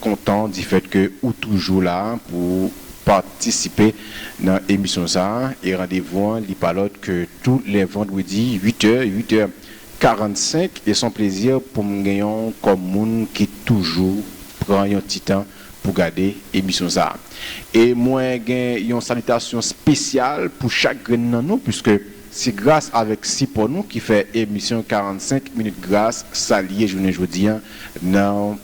kontan di fèt ke ou toujou la pou patisipe nan emisyon sa e randevou an li pa lòt ke tou lè vandredi 8 è 8 è 45 e son plezi pou m gen yon kòm moun ki toujou pran yon ti tan pou gade emisyon sa e mwen gen yon salitasyon spesyal pou chak grenn nan nou puiske se gras avèk sipò nou ki fè emisyon 45 minit gras sa li ye jounen jodi nan.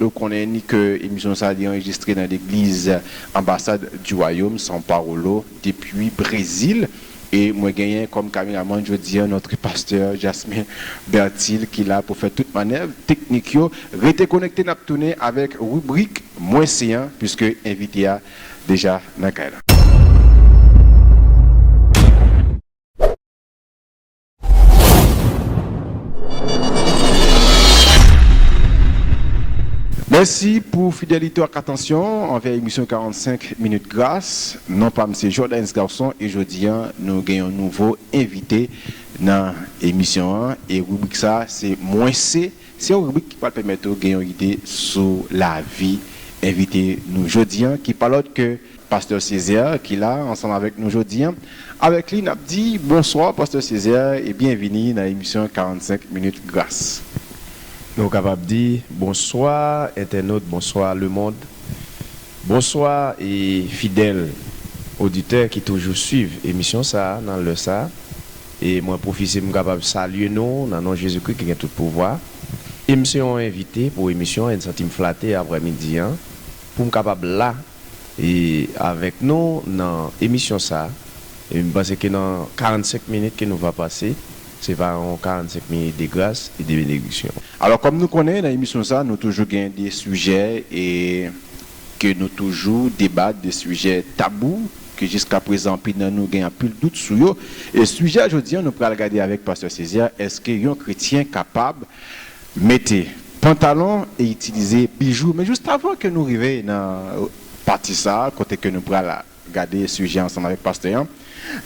Nou konnen ni ke emisyon sa li anrejistre nan legliz Ambassad du Royaume São Paulo depui Brezil e mwen genyen kòm kameramann jodi an notre pasteur Jasmin Bertil ki la pou fè tout manèv teknik yo. Rete konekte nap tounen avèk ribrik Mwen se an puiske envite a deja nan kay la. Mèsi pou fidelite w ak atansyon w anvè emisyon 45 minutes gras. Non pa m se Jordaens Garçon e jodi an nou gen yon nouvo envite nan emisyon an e ribrik sa se Mwen se, se yon ribrik ki pral pèmèt ou gen yon ide sou lavi envite nou jodi an ki pa lòt ke Pastè Césaire ki la ansanm avèk nou jodi an. Avèk li nap di bonswa Pastè Césaire e byenvini nan emisyon 45 minutes gras. Nou kapab di bonswa entènot, bonswa lemond, bonswa e fidèl oditè ki toujou swiv emisyon sa nan lè sa e mwen pwofise m kapab salye nou nan non Jezi Kri ki gen tout pouvwa e m se yon envite pou emisyon 1 santim flate aprè midi an pou m kapab la e avèk nou nan emisyon sa e m panse ke nan 45 minit ke nou va pase se va yon 45 minit de gras e de benediksyon. Alò kòm nou konnen nan emisyon sa nou toujou gen de sijè e ke nou toujou debat de sijè tabou ke jiskaprezan anpil nan nou gen anpil dout sou yo e sijè jodi an nou pral gade avèk pastè Cesaire èske yon kretyen kapab Mete pantalon e itilize bijou. Men just avan ke nou rive nan pati sa a kote ke nou pral gade sijè ansanm avèk pastè an,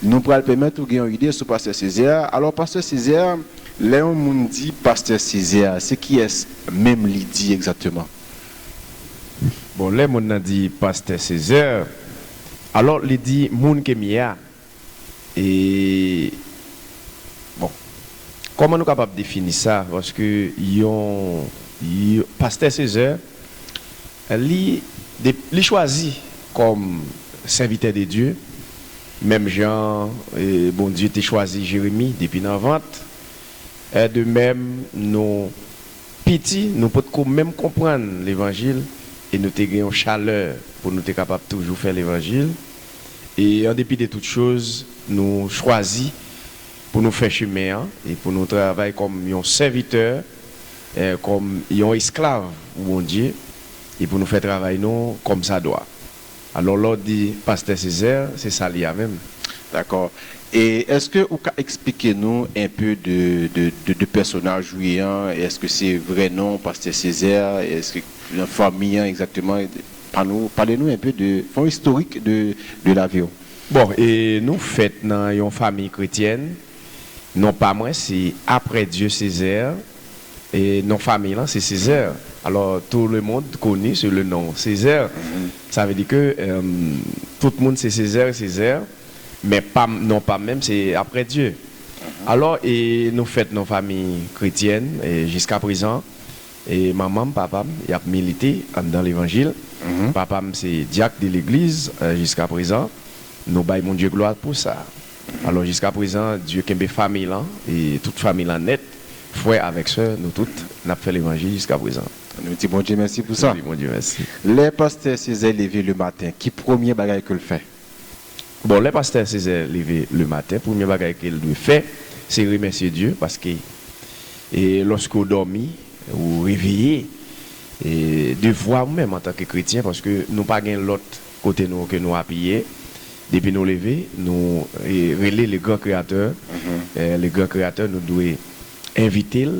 nou pral pèmèt ou gen yon ide sou pastè Césaire. Alò pastè Césaire, lè yon moun di pastè Césaire, se kiyès menm li di egzakteman? Bon, lè moun nan di pastè Césaire, alò li di moun ke m ye a. E bon kòman nou kapab defini sa paske yon pastè sezè li li chwazi kòm sèvitè de Dye menm jan Bondye te chwazi Jeremi depi nan vant en de mèm nou piti nou potko menm konprann levanjil e nou te gen yon chalè pou nou te kapab toujou fè levanjil. E an depi de tout choz, nou chwazi pou nou fè chemen an e pou nou travay kòm yon sèvitè, kòm yon esklav pou Bondye e pou nou fè travay nou kòm sa dwa. Alò lè w di Pastè Césaire, se sa l ye a menm. Dakò. E èske ou ka eksplike nou enpe de pèsonaj ou ye an? Èske se vrè non w Pastè Césaire? Èske fanmi an egzakteman? Pa nou pale nou enpe de fon istorik de de lavi w. Bon e nou fèt nan yon famiy kretyèn non pa mwen se aprè Dieu Césaire e non famiy lan se Césaire alò tout le monde connu sous le nom Césaire sa vle di ke tout moun se Césaire Césaire men pa m non pa m menm se aprè Dieu alò e nou fèt nan famiy kretyèn jiska prezan. E manman m, papa m, y ap milite anndan levanjil. Papa m se dyak de legliz jiskaprezan. Nou bay Bondye glwa pou sa. Alò, jiskaprezan, Dye kenbe famiy lan, e tout famiy lan nèt, frè avèk sè, nou tout, n ap fè levanjil jiskaprezan. Nou di Bondye mèsi pou sa. Nou di Bondye mèsi. Lè pastè Césaire leve le maten, ki premye bagay ke l fè? Bon lè pastè Césaire leve le maten premye bagay kel dwe fè se remèsye Dye paske e lòske ou dòmi ou reveye e devwa ou menm antanke kretyen paske nou pa gen lòt kote nou ke nou apiye depi nou leve nou e rele le gran kreyatè e le gran kreyatè nou dwe envitel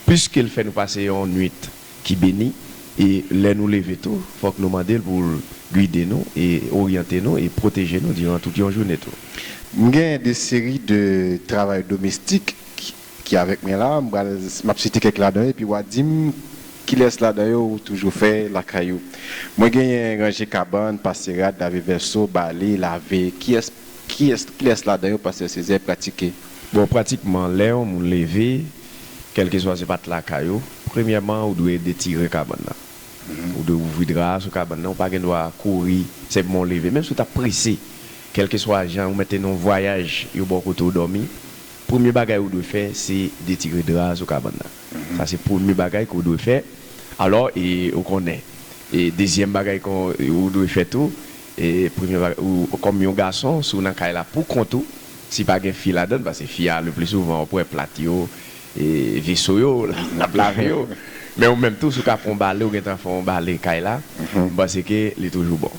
piskel fè nou pase yon nwit ki beni e lè nou leve tou fòk nou mande l pou l guide nou e oryante nou e pwoteje nou diran tout yon joune tou. M gen de seri de travay domestik ki avèk mwen la, m pral m ap site kèk ladan yo epi wa di m kilès ladan yo ou toujou fè lakay ou. Mwen genyen ranje kabann, pase rad, lave vèso, bale, lave. Kiyès kiyès kilès ladan yo pastè Césaire pratike? Bon pratikman lè yon moun leve Kèlkeswa se matla kay ou, premyèman ou dwe detire kabann nan. Ou dwe ouvri dra a sou kabann nan, ou pa gen dwa kouri, se bon leve. Menm si ou ta prese, kèlkeswa jan ou mete nan yon vwayaj, yo ba w kote ou dòmi, premye bagay ou dwe fè se detire dra a sou kabann nan. Sa se premye bagay ke w dwe fè. Alò, e ou konnen. E dezyèm bagay ke ou dwe fè tou, e premye bagay, ou kòm yon gason, si w nan kay la pou kont ou, Si pa gen fi ladann, pase fi a le pli souvan wap wè plat yo, veso yo, lap lave yo. Men ou menm tou si ou ka fè yon bale ou gentan fè yon bale kay la, m panse ke li toujou bon.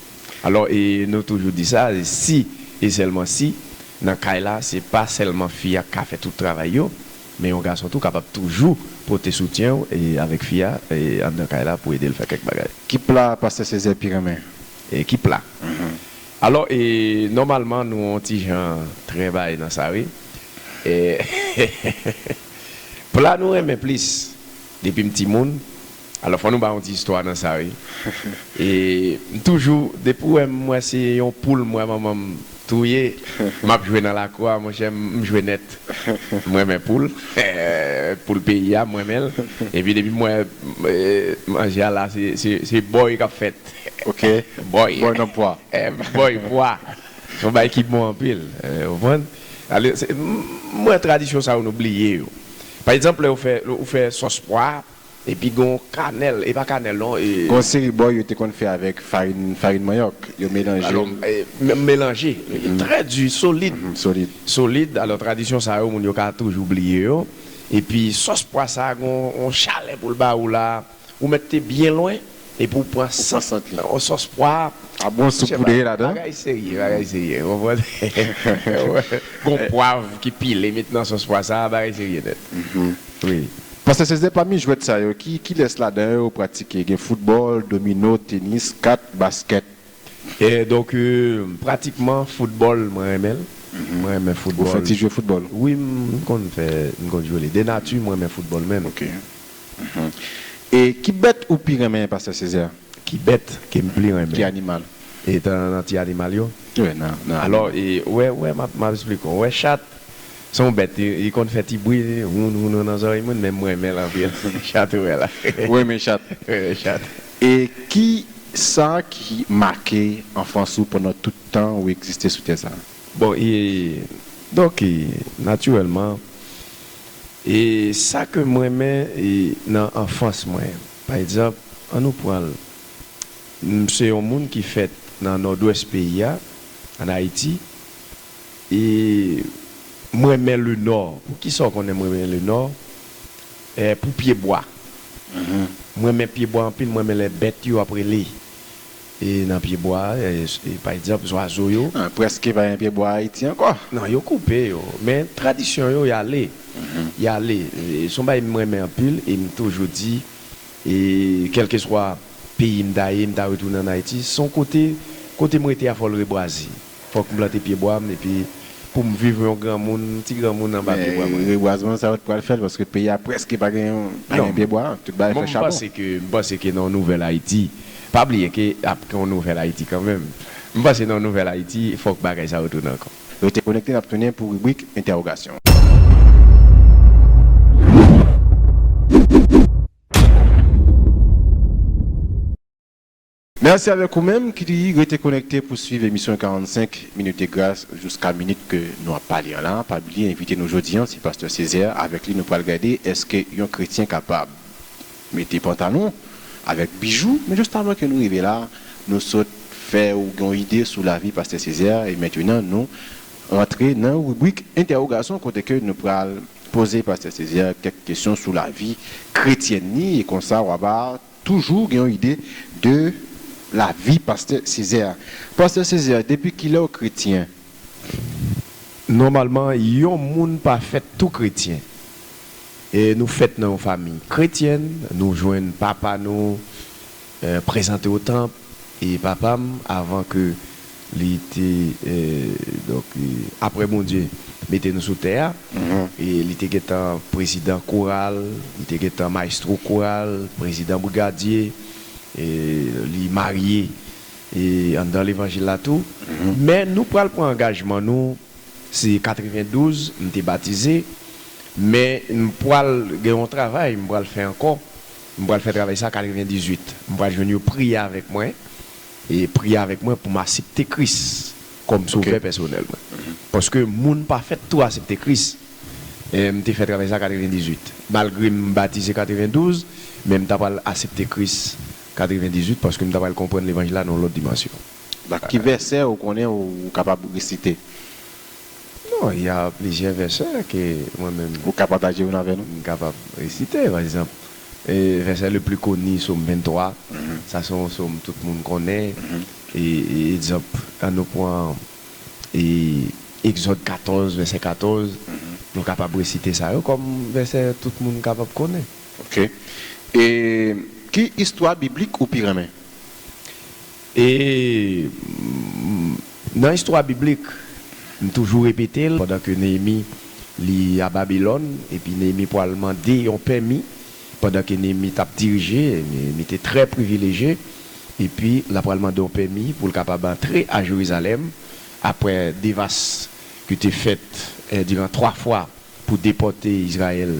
Alò e nou toujou di sa, si e sèlman si nan kay la se pa sèlman fi a ka fè tout travay yo, men yon gason tou kapab toujou pote soutyen ou e avèk fi a e anndan kay la pou ede l fè kèk bagay. Ki pla pastè Césaire pi renmen? Ki pla? Alò e nòmalman nou on ti jan trvay nan sa wi eh pla nou renmen plis depi m ti moun alò fò nou bay on ti istwa nan sa wi e m toujou depi w wè m m wè se yon poul m wè manman m touye m ap jwe nan lakou a monchè m jwe nèt m renmen poul eh poul peyi a m renmen l epi depi m wè manje a la se se se bòy k ap fèt. Ok boy boy nan pwa. Boy pwa son bagay ki bon anpil ou konprann ale se m wè tradisyon sa yo nou bliye yo pa egzanp lè ou fè ou fè sòs pwa epi gen yon kanèl e pa kanèl non e. Gen yon seri boy yo te konn fè avèk farin farin manyòk yo melanjel. Alò melanje trè di solid solid solid alò tradisyon sa yo moun yo ka toujou bliye yo epi sòs pwa sa gon yon chalè poul ba ou la. Ou mèt te byen lwen epi ou pran sant lan o sòs pwa a bon soup poudre ladan. Bagay serye bagay serye ou konprann gon pwav ki pile met nan sòs pwa sa bagay serye nèt wi. Pastè Cesde pami jwèt sa yo ki kilès ladan yo ou pratike gen foutbòl, domino, tenis, kat, baskèt. Donk pratikman foutbòl mwen renmen l mwen renmen foutbòl. Ou fè ti jwe foutbòl? Wi m konn fè m konn jwe li de nati m renmen foutbòl menm E ki bèt ou pi renmen pastè Césaire? Ki bèt ke m pli renmen? Ki animal? E tan nan ti animal yo? Wi nan animal. Alò e ou wè ou wè m ap esplike w, ou wè chat se yon bèt li konn fè ti bri woun woun nan zòrèy moun men m renmen l anpil chat ou wè la. Ou renmen chat? Ou renmen chat. E ki sa ki make anfans ou pandan tout tan ou egziste sou tè sa? Bon e donk e natirèlman. E sa ke m renmen nan anfans mwen, pa egzanp, an nou pran l, m se yon moun ki fèt nan Nòdwès peyi a, an Ayiti, e m renmen Lenò. Pou ki sa w konnen m renmen Lenò? Pou pyebwa. M renmen pyebwa anpil, m renmen lè bèt yo ap rele. E nan pyebwa, e pa egzanp zwazo yo. Nan prèske pa gen pyebwa Ayiti ankò. Non, yo koupe yo. Men tradisyon yo, y ale. Y ale. S on bagay m renmen anpil e m toujou di, e kèlkeswa peyi m ta ye, m ta retounen ann Ayiti. S on kote, kote m rete a Fòlrebwazi. Fòk m plante pyebwa m epi pou m viv yon granmoun, ti granmoun anba pyebwa mwen. Men rebwazman sa yo t pral fè l paske peyi a prèske pa gen pa gen pyebwa, tout bagay fè chabon. Non, m panse ke, m panse ke nan yon nouvèl Ayiti, pa bliye ke ap gen yon nouvèl Ayiti kanmenm. M panse nan yon nouvèl Ayiti fòk bagay sa yo tounen ankò. Rete konekte n ap tounen pou ribrik entèwogasyon. Mèsi avèk ou menm ki rete konekte pou swiv emisyon 45 minutes de grâce jouska minit ke nou ap pale an la. Pa bliye envite nou jodi an se Pastè Césaire, avèk li nou pral gade eske yon kretyen kapab mete pantalon avèk bijou. Men just avan ke nou rive la, nou sot fè ou gen yon ide sou lavi Pastè Césaire e mentenan nou rantre nan ribrik entèwogason kote ke nou pral poze Pastè Césaire kèk kesyon sou lavi kretyèn ni e konsa wa ba Toujou gen yon ide de lavi pastè Césaire. Pastè Césaire depi kilèw kretyen? Nòmalman yon moun pa fèt tou kretyen. Nou fèt nan yon famiy kretyèn, nou jwenn papa nou prezante otanp, E papa m avan ke li te donk aprè Bondye mete nou sou tè a e li te gentan prezidan koral li te gentan maestro koral prezidan brigadye e li marye e anndan levanjil la tou men nou pral pran angajman nou se 92 m te batize men m pral gen yon travay m pral fè ankò M pral fè travay sa 98. M pral jwenn yo priye avèk mwen e priye avèk mwen pou m asepte Kris kòm sovè pèsonèl mwen. Paske moun pa fèt tou asepte Kris. M te fè travay sa 98. Malgre m batize 92, men m ta pral asepte Kris 98 paske m ta pral konprann levanjil la nan yon lòt dimansyon. Daki vèsè ou konnen ou kapab resite? Bon, y a plizyè vèsè ke mwen menm. Ou ka pataje youn avè nou? M kapab resite. Pa egzanp, vèsè le pli koni, Som 23. Sa se yon som tout moun konnen. E egzanp, an nou pran Egzòd 14, vèsè 14. Nou kapab resite sa yo kòm vèsè tout moun kapab konnen. Ok. E ki istwa biblik ou pi renmen? E nan istwa biblik, m toujou repete l, pandan ke Neyemi li a Babilòn, epi Neyemi pwal mande yon pèmi, pandan ke Neyemi t ap dirije, Neyemi te trè privileje, epi l apral mande yon pèmi pou l kapab antre a Jerizalèm, apre devas ki te fèt diran twa fwa pou depòte Izrayèl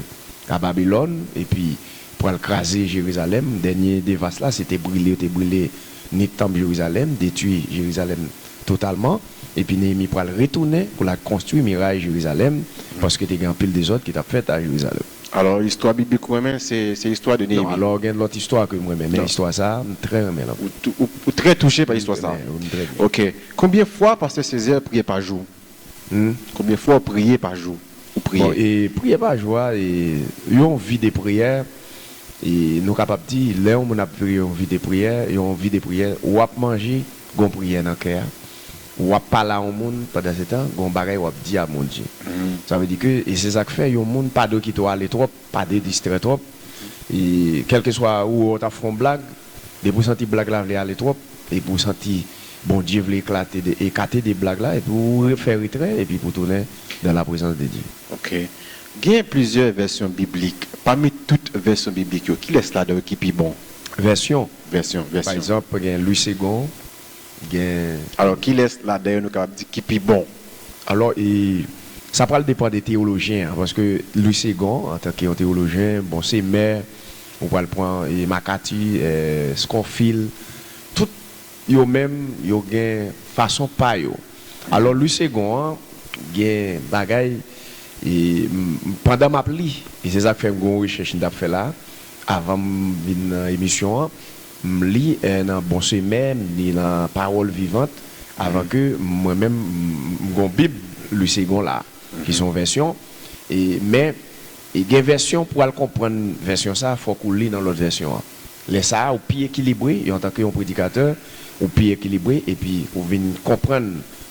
a Babilòn epi pou al kraze Jerizalèm. Dènye devas la se te brile, yo te brile ni tanp Jerizalèm, detwi Jerizalèm totalman. Epi Neyemi pral retounen pou l al konstwi miray Jerizalèm, paske te gen anpil dezòd ki t ap fèt a Jerizalèm. Alò, istwa biblik ou renmen, se se istwa de Non, Neyemi? alò gen lòt istwa ke m renmen, men Non. istwa sa a, m trè renmen l anpil. Ou, ou trè touche pa Wi, m istwa sa a? renmen, wi, m trè byen. Ok. Konbyen fwa pastè Césaire priye pa jou? Humm konbyen fwa w priye pa jou ou priye. Bon e priye pa jou a e yon vi de priyè e nou kapab di lè yon moun ap viv yon vi de priyè yon vi de priyè wap manje gon priyè nan kè a wap pale a yon moun pandan se tan gon bagay wap di a Bondye sa vle di ke e se sak fè yon moun pa dwe kite w ale twòp Pa de distrè twòp. E kèlkeswa ou wè w ta fè yon blag, depi w santi blag la vle ale twòp, epi w santi Bondye vle eklate de ekate de blag la, epi w re fè retrè, epi pou w tounen dan la prezans de Dye. Ok. Gen plizyè vèsyon biblik. Pami tout vèsyon biblik yo, kilès ladan yo ki pi bon? Vèsyon? Vèsyon, vèsyon. Pa egzanp, gen Lwi Segon. Gen. Alò, kilès ladan yo nou kapab di ki pi bon? Alò, e, sa pral depan de teyolojyen an, paske Louis Segond, antanke yon teyolojyen, bon, se mè, ou pral pran, e, Makati, e, Skonfil, tout yo menm, yo gen fason pa yo. Alò, Louis Segond an, gen bagay, e, m, m, pandan m ap li, e se sa k fè m gen yon rechèch m t ap fè la, avan m vin nan emisyon an, M li nan bon semè, m li nan Pawòl Vivant avan ke mwen menm m gon Bib Louis Segond la ki son vèsyon e men gen vèsyon pou al konprann vèsyon sa fòk ou li nan lòt vèsyon an. Lè sa ou pi ekilibre yon tanke yon predikatè ou pi ekilibre epi ou vin konprann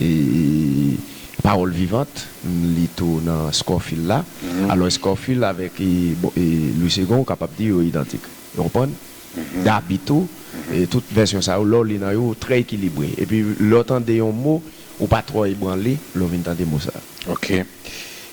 e pawòl vivant m li tou nan Scofield la alò Scofield avèk Louis Segond ou kapab di yo idantik ou konprann Gaby tou e tout vèsyon sa yo lè w li nan yo ou trè ekilibre epi lè w tande yon mo ou pa twò ebranle lè w vin tande mo sa. Ok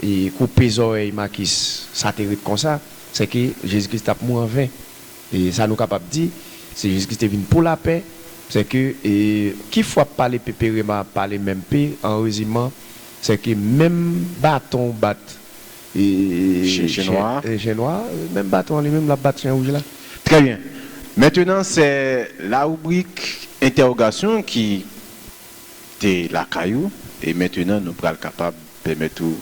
E koupe zòrèy Makis sa te ret konsa, sèke Jezi Kris t ap mou anven. E sa nou kapab di, se Jezi Kris te vin pou lapè, sèke e ki fwap pa lepe Perema ap pale menm pe, an reziman, sèke menm baton ou bat e Chen nwa a. e Chen nwa a, menm baton an li menm l ap bat Chen wouj la. Trè byen. Mentenan, sè la ribrik entèwogasyon ki. te lakay ou e mentenan nou pral kapab pèmèt ou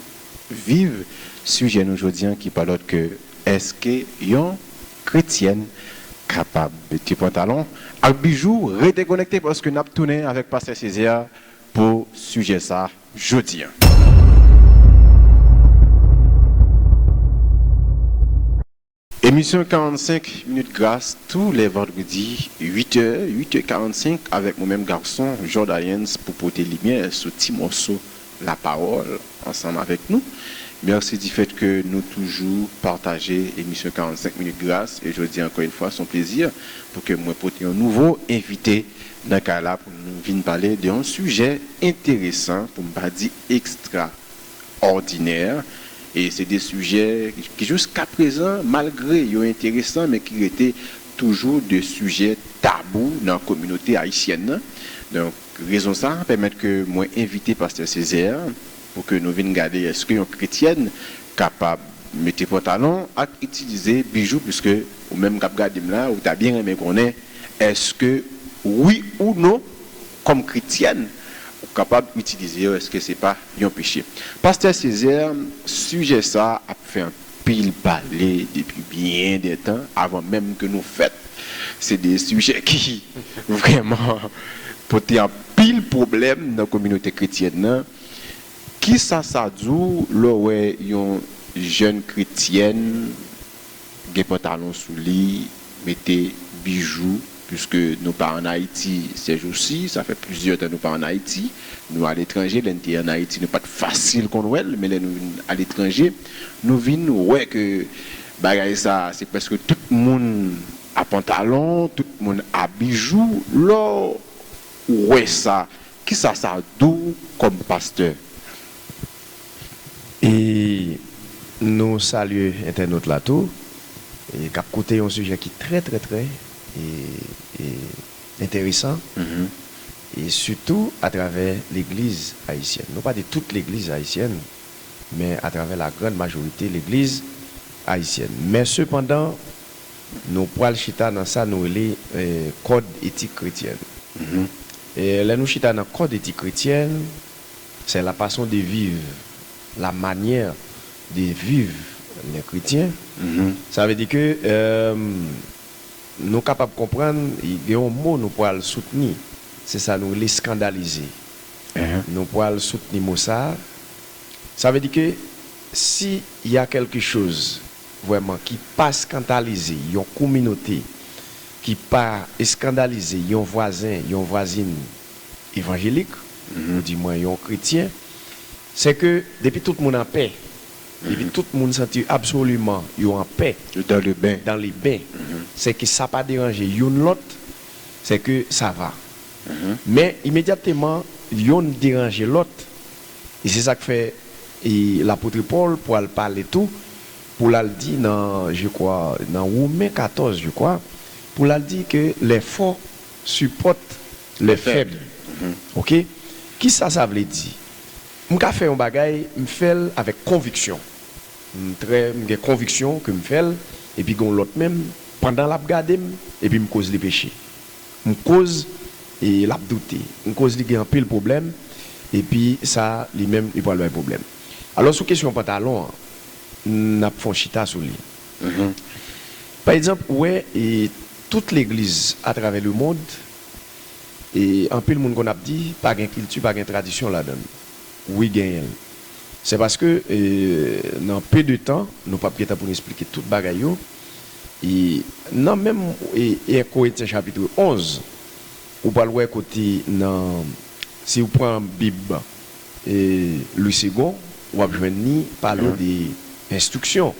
viv sijè nou jodi an ki pa lòt ke Èske yon kretyèn kapab mete pantalon ak bijou? Rete konekte paske nap tounen avèk Pastè Césaire pou sijè sa jodi an. Emisyon 45 minutes gras tou lè vandredi 8 è, 8 è 45 avèk mwen menm gason Jordayens pou pote limyè sou ti mòso la pawòl ansanm avèk nou. Mèsi di fèt ke nou toujou pataje emisyon 45 minutes gras e jodi ankò yn fwa son plezi pou ke mwen pote yon nouvo envite nan kay la pou nou vin pale de yon sijè enteresan pou m pa di ekstra òdinè, e se de sijè ki jiska prezan malgre yo enteresan men ki rete toujou de sijè tabou nan kominote ayisyèn nan. Donk rezon sa pèmèt ke mwen envite Pastè Césaire pou ke nou vin gade èske yon kretyèn kapab mete pantalon ak itilize bijou puiske ou menm kap gade m la ou ta byen renmen konnen èske wi ou non Kòm kretyèn ou kapab itilize yo eske se pa yon peche. Pastè Césaire sijè sa ap fè anpil pale depi byen de tan avan menm ke nou fèt se de sijè ki vrèman pote anpil pwoblèm nan kominote kretyèn nan kisa sa di w lè w wè yon jèn kretyèn gen pantalon sou li, mete bijou, puiske nou pa an Ayiti sèjousi, sa fè plizyè tan nou pa an Ayiti, nou aletranje, lè n te an Ayiti nou pa t fasil konn wè l, men lè nou vin aletranje nou vin wè ke bagay sa a se prèske tout moun a pantalon, tout moun a bijou, lè w wè sa, kisa sa di w kòm pastè? E nou salye entènot la tou e kap koute yon sijè ki trè trè trè e e enteresan e sitou atravè legliz ayisyèn. Nou pa di tout legliz ayisyèn men atravè la grand majorite legliz ayisyèn. Men sepandan nou pwal chita nan sa nou rele kòd etik kretyèn. E lè nou chita nan kòd etik kretyèn Se la façon de vivre, la manière de vivre les chrétiens. Sa vle di ke nou kapab konprann gen yon mo nou pwal soutni, se sa nou rele scandaliser. Nou pwal soutni mo sa a. Sa vle di ke si y a quelque chose vrèman ki pa scandalize yon kominote, ki pa scandalize yon vwazen, yon vwazin, evanjelik, yo di mwen yon kretyen, se ke depi tout moun anpè, depi tout moun santi absoliman yo anpè, yo dan le ben, dan le ben, se ke sa pa deranje youn lòt, se ke sa va. Men imedyatteman youn deranje lòt, e se sa k fè e Lapotre Pòl pwal pale tou, pou l al di nan je kwa nan Women 14 je kwa, pou l al di ke lè fò, support les faibles ok kisa sa vle di m ka fè yon bagay m fèl avèk konviksyon m trè m gen konviksyon ke m fèl epi gon lòt menm pandan lap gade m epi m koz li peche m koz e lap doute m koz li gen anpil pwoblèm epi sa li menm li pwal bay pwoblèm alò sou kesyon pantalon an nap fon chita sou li. Pa egzanp, ou wè tout legliz atravè lemond, anpil moun konn ap di pa gen kilti, pa gen tradisyon ladan l. Wi genyen l. Se paske nan pe de tan, nou p ap gen tan pou nou esplike tout bagay yo. Nan menm 1 Korentyen chapitre 11, ou pral wè kote nan, si ou pran Bib. Louis Segond, w ap jwenn li pale w de enstriksyon.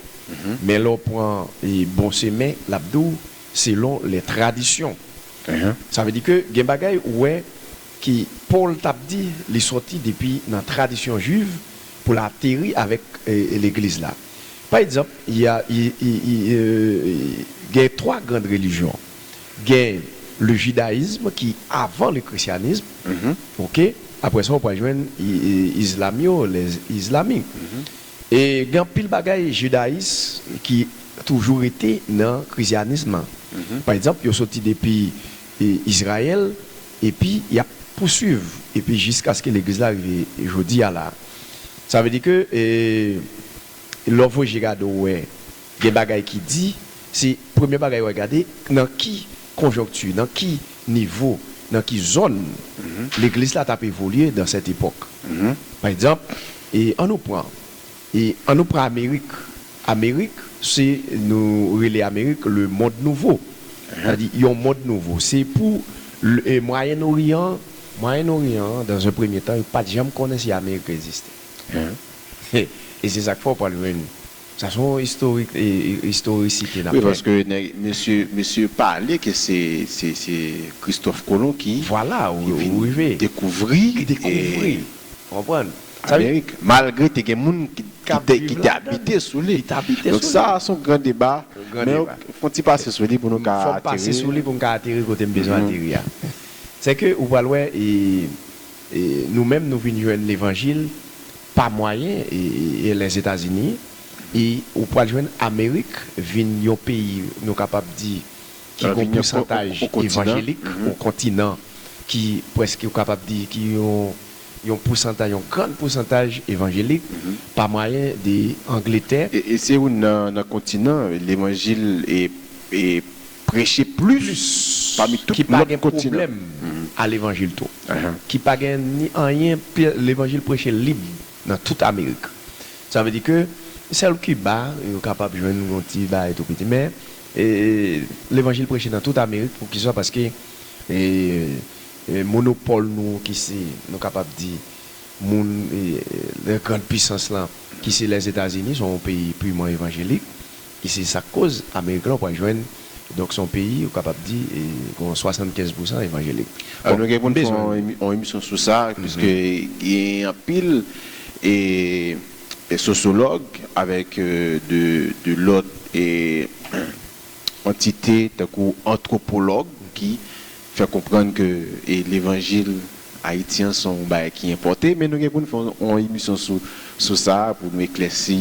Men lè w pran Bon Semen, l ap di w selon lè tradisyon. Sa vle di ke gen bagay ou wè ke Pòl t ap di li sòti depi nan tradisyon jwiv pou l ateri avèk legliz la. Pa egzanp, gen twa grand relijyon. Gen le judaisme ki avan le christianisme ok aprè sa ou pral jwenn islam yo les islamic e gen anpil bagay judais ki toujou rete nan christianisme lan pa egzanp yo soti depi Israël epi yap pousuiv epi jiskaske legliz la rive jodi a la sa vle di ke lè ou voye je gade ou wè. Gen bagay ki di, se premye bagay wè gade nan ki konjonkti, nan ki nivo, nan ki zòn legliz la tap evolye dan sèt epòk. Pa egzanp, an nou pran, an nou pran amerik, amerik se nou rele amerik le mond nouvo, sa di yon mond nouvo, se pou mwayen oryan, mwayen oryan an dan ze premye tan yo pat janm konnen si amerik egziste e se sak fè ou pwal jwenn Sa son istorik istorisite nap fè. Wi paske nèg mesye mesye pale ke se se se Christophe Colomb ki Vwala ki ou vin rive dekouvri ki dekouvri ou konprann sa vle Amerik malgre te gen moun ki ki te ki te abite sou li ki te abite donk sou sa li son gran deba yon gran men deba fon ti pase sou li pou nou ka fò m pase ateri sou li pou m ka ateri kote m bezwen ateri a se ke ou pral wè e Nou menm nou vin jwenn levanjil pa mwayen Lèzetazini e ou pwal jwenn Amerik vin yon peyi nou kapab di ki gon pousantaj evanjelik, yon kontinan ki pwèske ou kapab di ki yon pousantaj, yon gran pousantaj evanjelik pa mwayen de Angletè. E se youn nan kontinan levanjil e Preche plis pami tout lòt kontinan. A levanjil tou. Ki pa gen ni anyen pi levanjil preche lib nan tout amerik. Sa vle di ke sèl Kiba yo kapab jwenn yon ti bagay tou piti men levanjil preche nan tout amerik pou kisa paske monopòl nou ki se nou kapab di moun lè grand pisans lan ki se lèzetazini son yon peyi piman evanjelik. E se sa k koz Amerik la ou pral jwenn donk se yon peyi ou kapab di gon 75 pou san evanjelik. Bon nou gen pou n fè yon emisyon sou sa piske gen anpil sosyològ avèk de lòt antite tankou antwopològ ki fè konprann ke levanjil Ayiti an se yon bagay ki enpòte, men nou gen pou nou fè yon emisyon sou sa pou nou eklèsi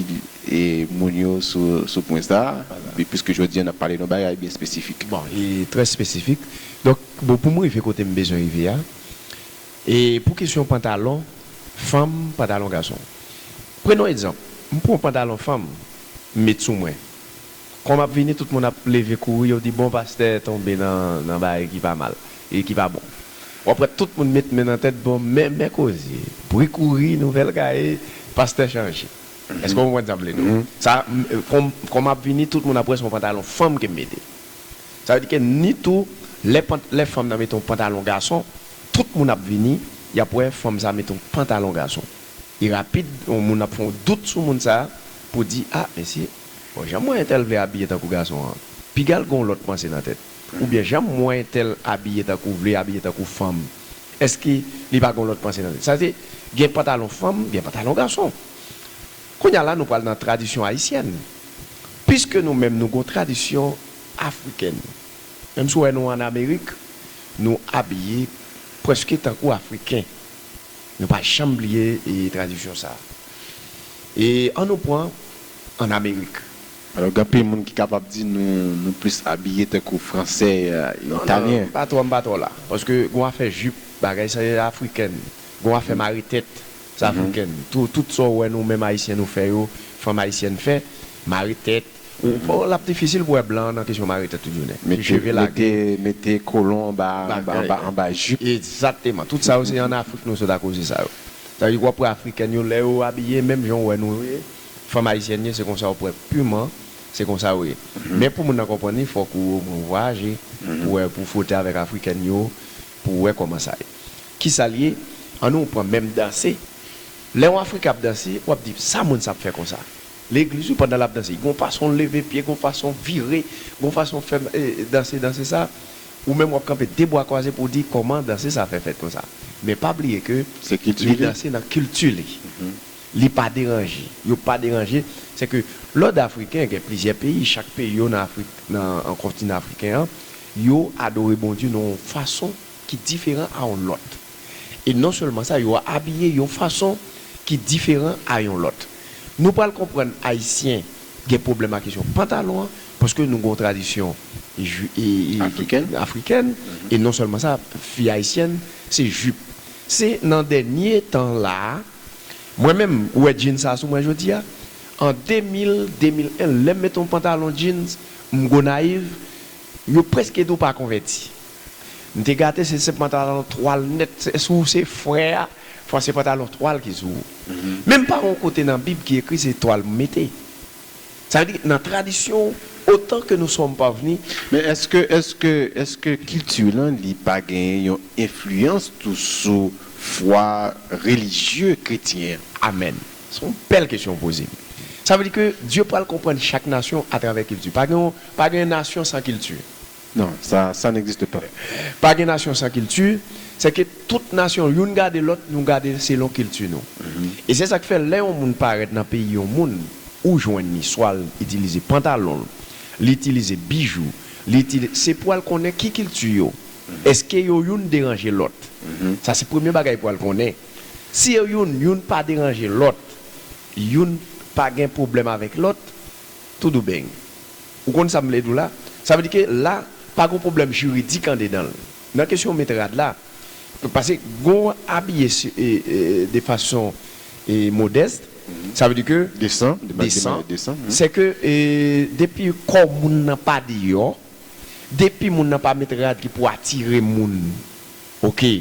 moun yo sou pwen sa, piske jodi an n ap pale de yon bagay byen espesifik. Bon, li trè espesifik. Donk, bon, pou m rive kote m bezwen rive a, pou kesyon pantalon fanm, pantalon gason, prenons exemple, m pran yon pantalon fanm, m met sou mwen. Kòm ap vini tout moun ap leve kouri yo di bon pastè tonbe nan bagay ki pa mal e ki pa bon. Wap wè tout moun met men nan tèt bon men men koze bri kouri nouvèl gaye pastè chanje. Eske w konprann sa m vle di w? Sa kòm ap vini tout moun ap wè se yon pantalon fanm ke m mete. Sa vle di ke ni tou lè lè fanm nan mete yon pantalon gason tout moun ap vini yap wè fanm sa mete yon pantalon gason. E rapid yon moun ap fè yon dout sou moun sa pou di ah mesye. Bon janm wè entèl vle abiye tankou gason an pigal gonw lòt panse nan tèt ou byen janm wè entèl abiye tankou vle abiye tankou fanm eske li pa gonw lòt panse nan tèt sa se gen pantalon fanm gen pantalon gason kounya la nou pral nan tradisyon ayisyèn piske nou menm nou gon tradisyon afrikèn menm si w wè nou an amerik nou abiye preske tankou afriken. Nou pa janm bliye tradisyon sa a. E an nou pran ann Amerik. Alò gen anpil moun ki kapab di nou nou plis abiye tankou Fransè, Italyen. M pa twò m pa twò la. Paske gen yon afè jip, bagay sa se afriken. Gen yon afè mare tèt, se afriken. Tout sa ou wè nou menm Ayisyen nou fè yo, fanm Ayisyèn fè, mare tèt, Bon lap difisil pou wè blan nan kesyon mare tèt tout jounen. Cheve lage. Mete kolon anba jip. Egzateman. Tout sa yo se an Afrik nou sot akoze sa yo. Sa vle di wap wè afrikèn yo lè yo abiye menm jan ou wè nou ye, fanm ayisyèn ye se konsa wap wè piman se konsa yo ye. Men pou moun nan konprann li fòk ou omwen ou vwayaje pou wè pou fwote avèk afrikèn yo pou wè kòman sa ye. Kisa li ye? An nou pran menm danse. Lè yon afriken ap danse wap di sa moun sa ap fè konsa? Legliz wi pandan lap danse gon fasonl leve pye gon fason vire gon fason fè danse danse sa ou menm wap kanpe 2 bwa kwaze pouw di kòman danse sa fè fèt konsa men pa bliye ke li danse nan kilti li li pa deranje yo pa deranje se ke lòd afriken gen plizyè peyi chak peyi yo nan afrik nan kontinan afriken an yo adore Bondye nan yon fason ki diferan a yon lòt. E non sèlman sa, yo abiye yon fason ki diferan a yon lòt. Nou pral konprann Ayisyen gen pwoblèm ak kesyon pantalon an, paske nou gen yon tradisyon afrikèn. E non sèlman sa, fi ayisyèn se jip. Se nan dènye tan la a, mwen menm, ou wè djin sa a sou mwen jodi a, an 2000, 2001, lè m met yon pantalon djin m Gonayiv, yo prèske di w pa konvèti. M te gate se se pantalon twal nèt se ou se frè a fwa se pantalon twal ki sou ou menm pa yon kote nan bib ki ekri se twal m mete sa vle di nan tradisyon otan ke nou som pavni. Men eske eske eske kilti lan li pa genyen yon enfliyans tou sou fwa relijye kretyen an? Amen se yon bèl kesyon ou poze m sa vle di ke Dye pral konprann chak nasyon atravè kilti pa gen yon pa gen nasyon san kilti Non, sa, sa n'existe pas. Pa gen nasyon san kilti, sè ke tout nasyon youn gade lòt, nou gade selon kilti nou. E se sa k' fè lè yon moun parèt nan peyi yon moun, ou jwenn li swa l' itilize pantalon l', li itilize bijou, li itili, se pou al konnen ki kilti yo, èske yo youn deranje lòt. Sa se premye bagay pou al konnen. Si yo youn, youn pa deranje lòt, youn pa gen pwoblèm avèk lòt, Toudoubeng. Ou konn sa m vle di w la? Sa vle di ke la, pa gen yon pwoblèm jiridik andedan l. Nan kesyon met rad la, pase gen yon abiye de fason modèst, sa vle di ke. Desan. Desan. Se ke depi kò moun nan pa deyò, depi moun nan pa met rad ki pou atire moun oke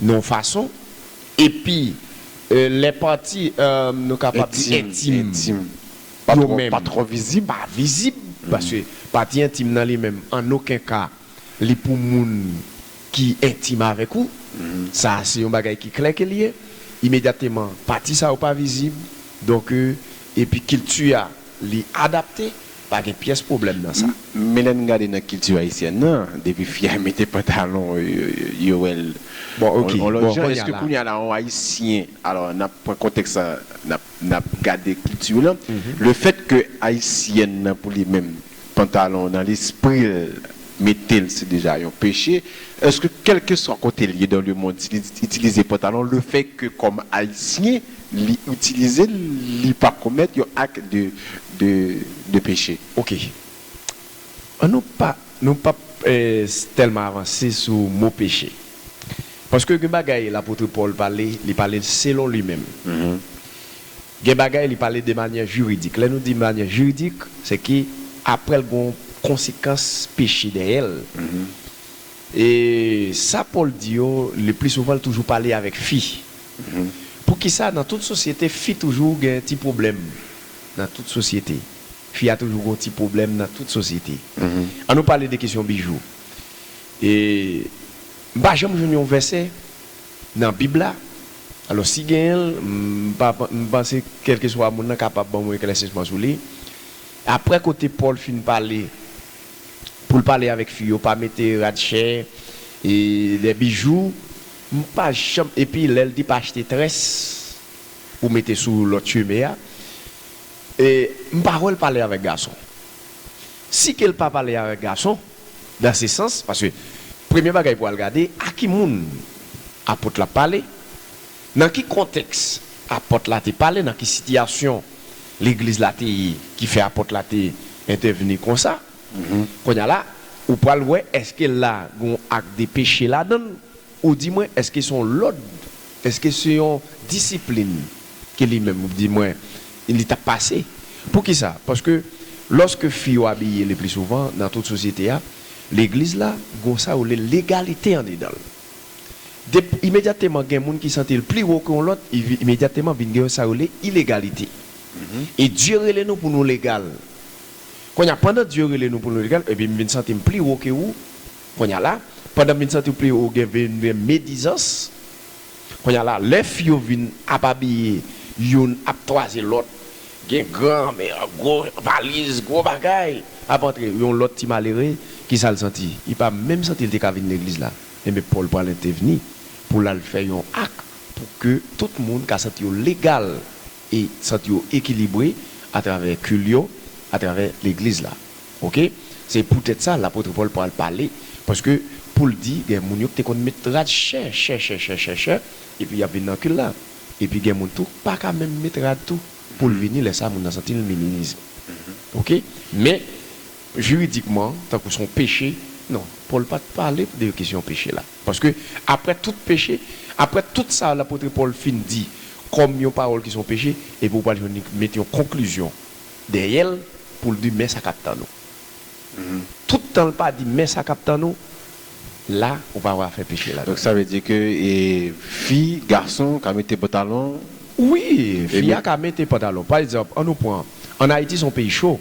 nan yon fason, epi lè pati nou kapab di entim. Entim. yo menm. Pa vizib, paske pati entim nan li menm an oken ka li pou moun ki entim avèk ou. Sa a se yon bagay ki klè ke li ye. Imedyateman, pati sa yo pa vizib, donk epi kilti a li adapte, pa gen pyès pwoblèm nan sa. Men lè n gade nan kilti ayisyèn nan, depi fi a mete pantalon, yo wè l yon lòt jan. Èske kounya la yon ayisyen, alò n ap pran kontèks la, n ap. N ap gade kilti w lan. Le fèt ke Ayisyèn nan pou li menm pantalon nan lespri l mete l se deja yon peche. Èske kèlkeswa kote l ye dan le mond si li itilize pantalon le fèt ke kòm Ayisyen li itilize l li pa komèt yon ak de peche? Ok. An nou pa nou p ap tèlman avanse sou mo peche. Paske gen bagay lapotre Pòl pale, li pale l selon li menm. Gen bagay li pale de manyè jiridik. Lè nou di manyè jiridik, se ke apre l gen yon konsekans peche dèyè l. E sa Pòl di yo, le pli souvan l toujou pale avèk fi. Poukisa nan tout sosyete fi toujou gen ti pwoblèm nan tout sosyete? Fi a toujou gen yon ti pwoblèm nan tout sosyete. An nou pale de kesyon bijou. E m pa janm jwenn yon vèsè nan bib la, alò si genyen l m panse kèlkeswa moun nan kapab ban mwen eklèsisman sou li. Aprè kote Pòl fin pale pou l pale avèk fi yo pa mete rad chè e lè bijou m pa janm epi lè l di pa achte très pou mete sou lòt cheve a e m pa wè l pale avèk gason. Si ke l pa pale avèk gason. Nan se sans, paske premye bagay pou al gade a ki moun apot la pale, nan ki kontèks apot la te pale, nan ki sitiyasyon legliz la te ye ki fè apot la te entèvni konsa. Kounye a la, ou pral wè èske la gen yon ak de peche ladan l Ou di mwen, èske se yon lòd? Èske se yon disiplin ke li menm di mwen li ta pase? Poukisa? Paske lòske fi yo abiye le pli souvan nan tout sosyete a, legliz la gon sa yo rele legalite andedan l. Dep, imedyateman gen moun ki santi l pli wo ke yon lòt, imedyateman vin gen yon sa yo rele ilegalite. E Dye rele nou pou nou legal. Kounye a, pandan Dye rele nou pou nou legal, epi m vin santi m pli wo ke ou, Konya la, pandan vin santi w pi wo gen vin gen medizans, konya la lè fi yo vin ap abiye youn ap twaze lòt, gen gran mè, gwo valiz, gwo bagay ap antre, yon lòt ti malere ki sa l santi? Li pa menm santi l te ka vin legliz la. Enben Pòl pral entèvni pou l al fè yon ak pou ke tout moun ka santi yo legal e santi yo ekilibre atravè kil yo, atravè legliz la. Oke, se poutèt sa lapotre Pòl pral pale, paske pou l di gen moun yo k te konn met rad chè, chè, chè, chè, chè, chè, epi y ap vin nan kil la. Epi gen moun tou k pa ka menm met rad tou, pou l vini, lè sa a moun nan santi l minimize. Oke, men, jiridikman, tankou s on peche, non, Pòl pa t pale de kesyon peche la. Paske, apre tout peche, apre tout sa lapotre Pòl fin di kòm yon pawòl ki s on peche, epi ou pral jwenn li met yon konklizyon. Dèyè l pou l di men sa k ap tann ou. Tout tan l pa di men sa k ap tann ou, la ou pa wè afè peche ladan l. Donk sa vle di ke fi, gason ka mete pantalon. Wi, fi a ka mete pantalon. Pa egzanp, an nou pran, an Ayiti se yon peyi cho,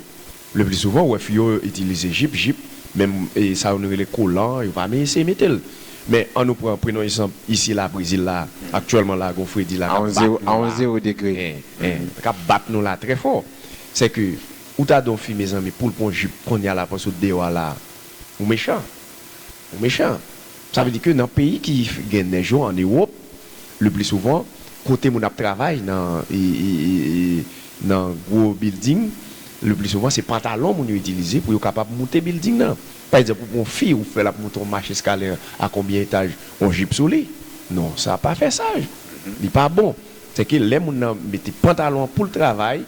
le pli souvan ou wè fi yo itilize jip, jip, menm sa yo nou rele kolan, yo pa eseye mete l. Men, an nou pran, prenons egzanp, isi la, Brezil la, aktyèlman la, gon fredi la k ap bat nou la, k ap bat nou la trè fò. Sè ke, ou ta don fi mezanmi pou l pran yon jip kounye a la panse ou t deyò a la, ou mechan. Ou mechan. Sa vle di ke nan peyi ki gen nèj yo, an Ewop, le pli souvan, kote moun ap travay nan nan gwo bilding, le pli souvan se pantalon moun yo itilize pou yo kapab moute bilding nan. Pa egzanp, ou pran yon fi, ou fè l ap monte yon mach eskalè a konbyen etaj, yon jip sou li. Non, sa pa fè saj. Li pa bon. Sèke lè moun nan mete pantalon an pou l travay,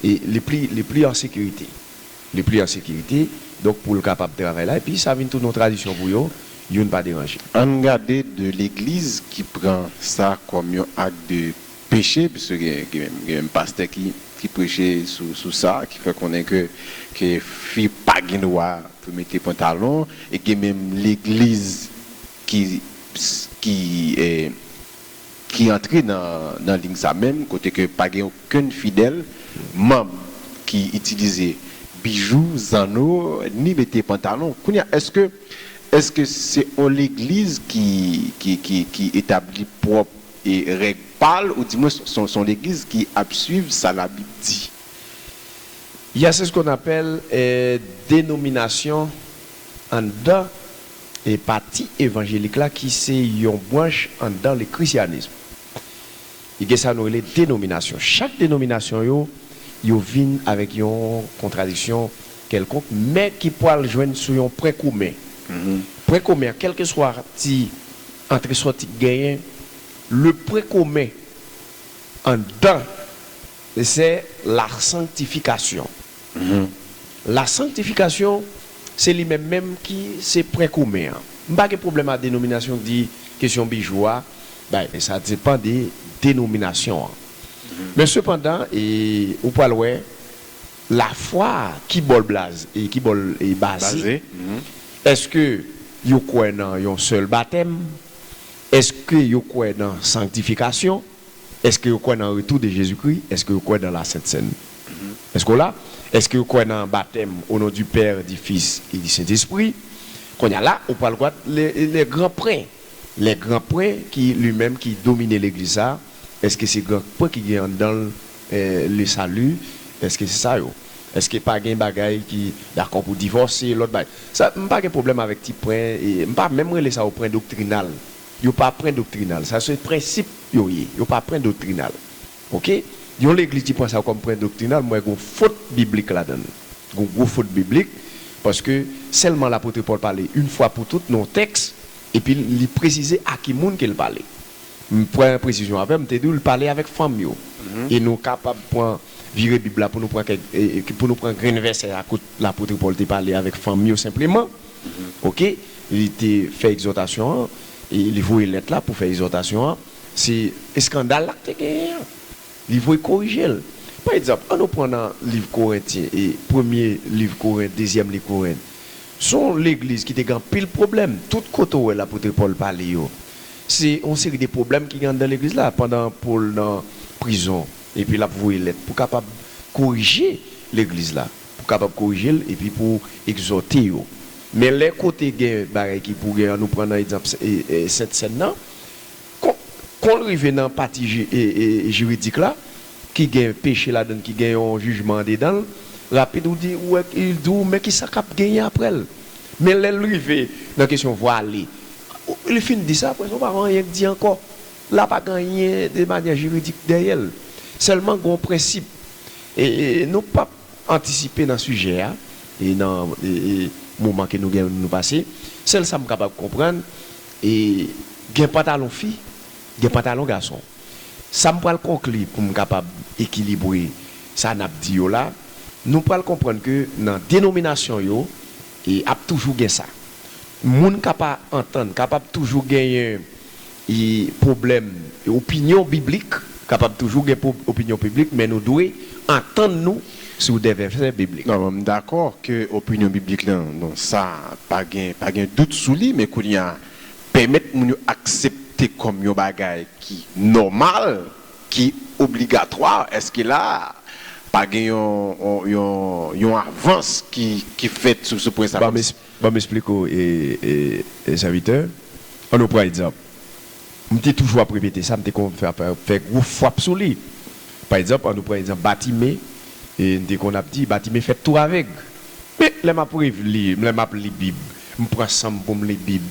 li pli, li pli an sekirite. Li pli an sekirite, donk pou l kapab travay la. Epi sa vin tounen yon tradisyon pou yo, youn pa deranje. Ann gade de legliz ki pran sa kòm yon ak de. peche pwiske gen menm pastè ki preche sou sa ki fè konnen ke fi pa gen dwa pou mete pantalon e gen menm legliz ki antre nan liy sa menm kote ke pa gen okenn fidèl manb ki itilize bijou, zanno ni mete pantalon kounye a èske se yon legliz ki etabli pwòp e règ pa l ou di mwens s on legliz ki ap swiv sa labib di ya se s kon apèl denominasyon anndan pati evanjelik la ki se yon branch anndan le krisyanism li gen sa nou rele denominasyon chak denominasyon yo yo vin avèk yon kontradiksyon Kèlkonk mè ki pwal jwenn sou yon pwen komen. Pwen komen an, kèlkeswa ti antre-sòti k genyen, le pwen komen anndan se lasanktifikasyon. Lasanktifikasyon se li menm menm ki se pwen komen an. M pa gen pwoblèm a denominasyon k di kesyon bijou a, bay, men sa depan de denominasyon an. Men sepandan, e ou pwal wè, La fwa ki bol blaze e ki bol e baze eske yo kwè nan yon sèl batèm eske yo kwè nan sanktifikasyon eske yo kwè nan retou de jezi kri eske yo kwè nan la sent sèn eske w la eske yo kwè nan batèm o non di pè di fis e di sentespri konn ya la ou pral gwad le le gran pren le gran pren ki li menm ki domine legliz sa eske se gran pren ki gen anndan l Le salut eske se sa yo. Eske pa gen bagay ki dakò pou divòse lòt bagay. Sa m pa gen pwoblèm avèk ti pwen e m pa menm rele sa yo pwen doktrinal. Yo pa pwen doktrinal. Sa se prensip yo ye. Yo pa pwen doktrinal. Ok. Yon legliz ki pran sa kòm pwen doktrinal m wè gon fot biblik ladan l. Gon gwo fot biblik paske sèlman lapotre Pòl pale yn fwa pou tout nan yon tèks epi li presize a ki moun ke l pale. M pran presizyon avè m te di w l pale avèk fanm yo. E nou kapab pran vire Bib la pou nou pran kèk pou nou pran grenn vèsè a kot lapotre Pòl te pale avèk fanm yo senpleman. Oke. Li te fè egzòtasyon an, li voye lèt la pou fè egzòtasyon an. Se eskandal la k te genyen an. Li voye korije l. Pa egzanp, annou pran nan liv Korentyen, premye liv Korent, dezyèm liv Korent. S on legliz ki te gen anpil pwoblèm. Tout kote w wè lapotre Pòl pale yo, Se yon seri de pwoblèm ki gen anndan legliz la pandan Pòl nan prizon epi l ap voye lèt pou kapab korije legliz la, pou kapab korije l epi pou egzòte yo. Men lè kote gen bagay ki pou gen an, nou pran nan egzanp Sent Sèn nan, kon kon l rive nan pati jiridik la ki gen peche ladan l, ki gen yon jijman andedan l, rapid ou di ou wè, li di w men kisa k ap genyen aprè l. Men lè l rive nan kesyon vwale, Li fin di sa, apre sa ou pa gen anyen k di ankò. La pa gen anyen de manyè jiridik dèyè l. Sèlman gen yon prensip. E nou p ap antisipe nan sijè a e nan moman ke nou gen pou nou pase. Sèl sa m kapab konprann, e gen pantalon fi, gen pantalon gason. Sa m pral konkli pou m kapab ekilibre sa n ap di yo la, nou pral konprann ke nan denominasyon yo, E ap toujou gen sa. Moun ka pa antann, kapab toujou genyen e pwoblèm e opinyon biblik, kapab toujou gen pwob opinyon piblik men nou dwe antann nou sou dè vèsè biblik. Non, m dakò ke opinyon biblik lan, bon sa pa gen, pa gen dout sou li, men kounye a pèmèt moun yo aksepte kòm yon bagay ki nòmal ki obligatwa eske la a pa gen yon avans ki fèt sou pwen sa kòmsi. Banm esplike w sèvitè an nou pran egzanp m te toujou ap repete sa m te konn fè gwo fwap sou li pa egzanp an nou pran egzanp batime m te konn ap di batime fèt tou avèg men lè m ap revli lè m ap li bib m pran san m pou m li bib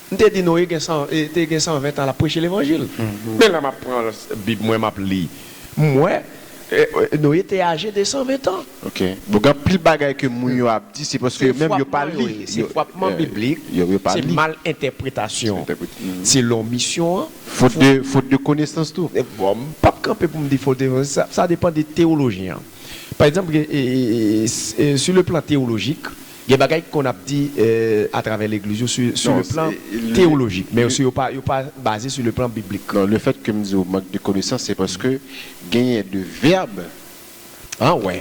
M te di Noé gen san te gen san ven tan lap preche levanjil men lè map pran bib mwen map li m wè Noé te aje de san ven tan. Ok donk anpil bagay ke moun yo ap di se paske yo menm yo pa li se fwapman biblik se mal entèpretasyon selon misyon an fot de konesans tou bon m pap kanpe pou m di fot de sa depan de tewolojyen an pa egzanp gen sou le plan tewolojik Gen bagay ki konn ap di a travè legliz yo sou le plan teyolojik, men yo pa yo pa baze sou le plan biblik. Non, le fèt ke m di w mank de konesans se paske genyen de vèb,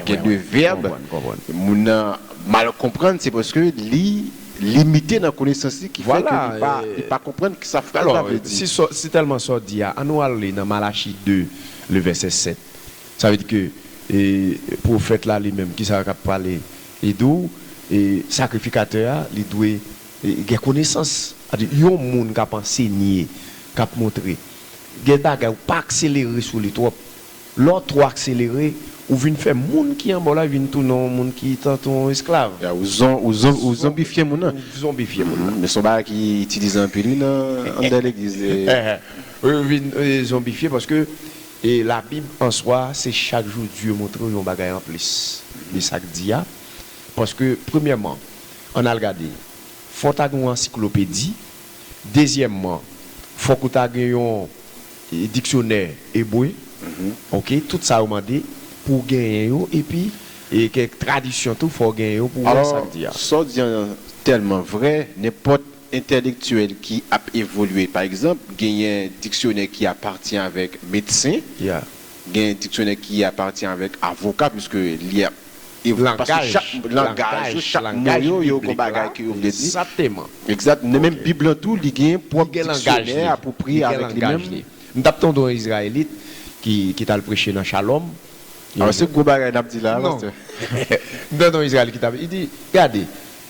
gen de vèb moun nan mal konprann se paske li limite nan konesans li ki fè ke li pa li pa konprann ki sa fraz la vle di. Alò, si tèlman sa w di a, an nou al li nan Malachi 2 le vèsè 7. Sa vle di ke pwofèt la li menm ki sa l ap pale Li di w, e, sakrifikatè a, li dwe, e, gen konesans. A di, yon moun k ap ansenye, k ap montre, gen bagay ou pa akselere sou li twòp. Lè w twò akselere, ou vin fè moun ki anba w la vin tounen yon moun ki tantou yon esklav. Ya, ou zon, ou zon, ou zonbifye moun nan. Ou zonbifye moun nan. Men s on bagay ki itilize anpil, wi, nan anndan legliz. Wi, yo vin zonbifye paske E labib an swa se chak jou Dye montrew yon bagay anplis de sak di a paske premyèman ann al gade fòw ta gen yon ansiklopedi dezyèmman fòk ou ta gen yon diksyonè ebre ok tout sa yo mande pouw genyen yo epi kèk tradisyon tou fòw genyen yo pouw wè sak di a. Alò, sa w di an tèlman vrè, nenpòt entèlektyèl ki ap evolye. Pa egzanp, genyen diksyonè ki apati avèk medsen, genyen diksyonè ki apati avèk avoka, piske li ap evolye, paske chak langaj yo, chak mo yo, yo gen bagay ke yo vle di. Egzat. Nan menm Bib lan tou, li gen pwòp diksyonè apwopriye avèk li menm. M t ap tande yon Izrayelit ki t al preche nan Shalom. Se gwo bagay n ap di la a, pastè. M tande yon Izrayelit ki t ap. Li di, Gade,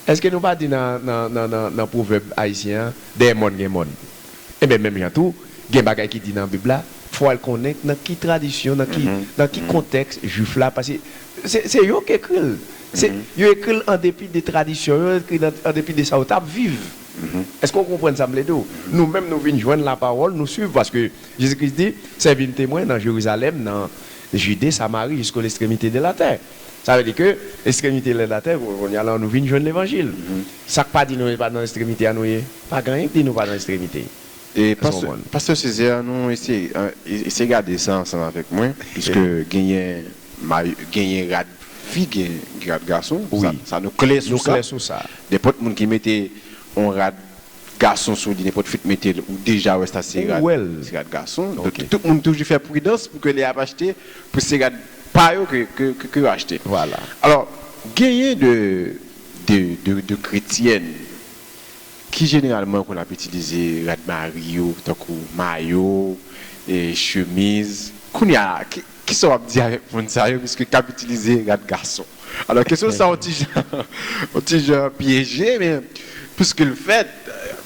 Èske nou pa di nan nan pwovèb ayisyen an, dèyè mòn gen mòn? Enben menm jan tou, gen bagay ki di nan Bib la, fò w al konnen nan ki tradisyon, nan ki nan ki kontèks Juif la, paske se se yo k ekri l. Se yo ekri l an depi de tradisyon yo, yo ekri l an depi de sa yo t ap viv. Èske w konprann sa m vle di w? Nou menm nou vin jwenn lapawòl, nou suiv, paske Jezi Kris di, Sèvi m temwen nan Jerizalèm, nan Jide, Samari, jisko lestremite de latè. Sa vle di ke estremite lèd atè kounye a la nou vin jwenn levanjil. Sa k pa di nou e pa nan estremite a nou ye? Pa gen anyen ki di nou pa nan estremite. Èske w konprann? Pastè Cesaire nou eseye eseye gade sa ansanm avèk mwen piske genyen may genyen rad fi gen rad gason sa nou klè sou sa nenpòt moun ki mete on rad gason sou li nenpòt fit metel ou deja wè sa se rad se rad gason donk tout moun toujou fè pridans pou ke lè yap achte pou se rad pa yo ke yo achte alò genyen de de kretyèn ki jeneralman konn ap itilize rad mari yo tankou mayo chemiz kounya Kisa w ap di avèk moun sa yo piske k ap itilize rad gason? Alò kesyon sa on ti jan on ti jan pyeje men piske l fèt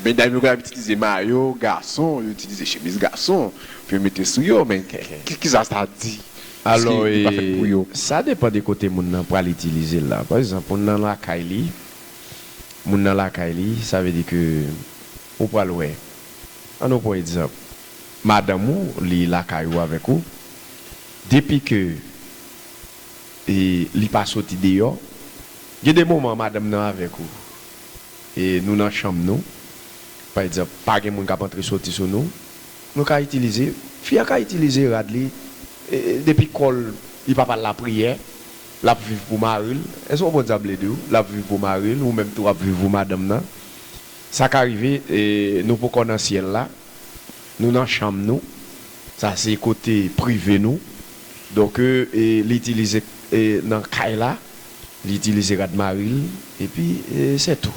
medam yo konn ap itilize mayo gason, yo itilize chemiz gason pou yo mete sou yo men kisa sa di piske li pa fèt pou yo? Alò e sa depan de kote moun nan pral itilize l la. Pa egzanp moun nan lakay li, moun nan lakay li sa vle di ke ou pral wè an nou pran egzanp. Madanm ou li lakay ou avèk ou depi ke e li pa soti deyò gen de moman madanm nan avèk ou e nou nan chanm nou pa egzanp pa gen moun kap antre soti sou nou nou ka itilize fi a ka itilize rad li e depi kòl li pap al lapriyè lap viv pou maril èske w konprann sa m vle diw lap viv pou maril ou menm tou wap viv pou madanm nan sa ka rive e nou poko nan syèl la. Nou nan chanm nou, sa se kote prive nou. Donk li itilize nan kay la, li itilize rad mari l, epi se tou.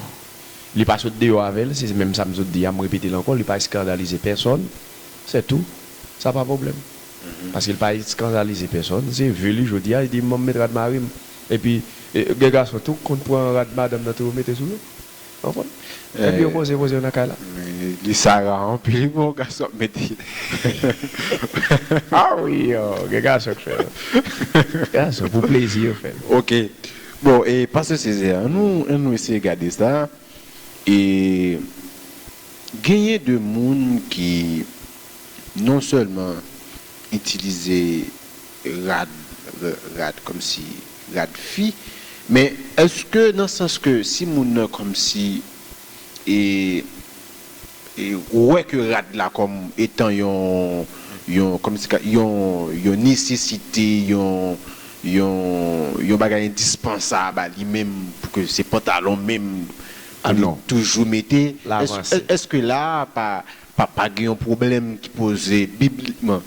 Li pa sot deyò avè l, se menm sa m sot di a, m repete l ankò, li pa eskandalize pèsòn, se tou. Sa pa pwoblèm. Paske li pa eskandalize pèsòn, se vi li jodi a, li di m ban m met rad mari m. Epi gen gason tou k konn pran rad madanm nan tou yo mete sou yo. Epi yo poze poze yo nan kay la. Li sara anpil wi bon gason ap mete. A wi gen gason k fèl. Gason pou plezi yo fèl. Ok bon e pastè Césaire an nou eseye gade sa e genyen de moun ki non sèlman itilize rad rad kòmsi rad fi men èske nan sans ke si moun nan kòmsi e e wè ke rad la kòm etan yon yon kòmsi ka yon yon nesesite yon yon yon bagay endispansab a li menm pou ke se pantalon menm pou li toujou mete èske la pa Papa gen yon pwoblèm ki poze biblikman.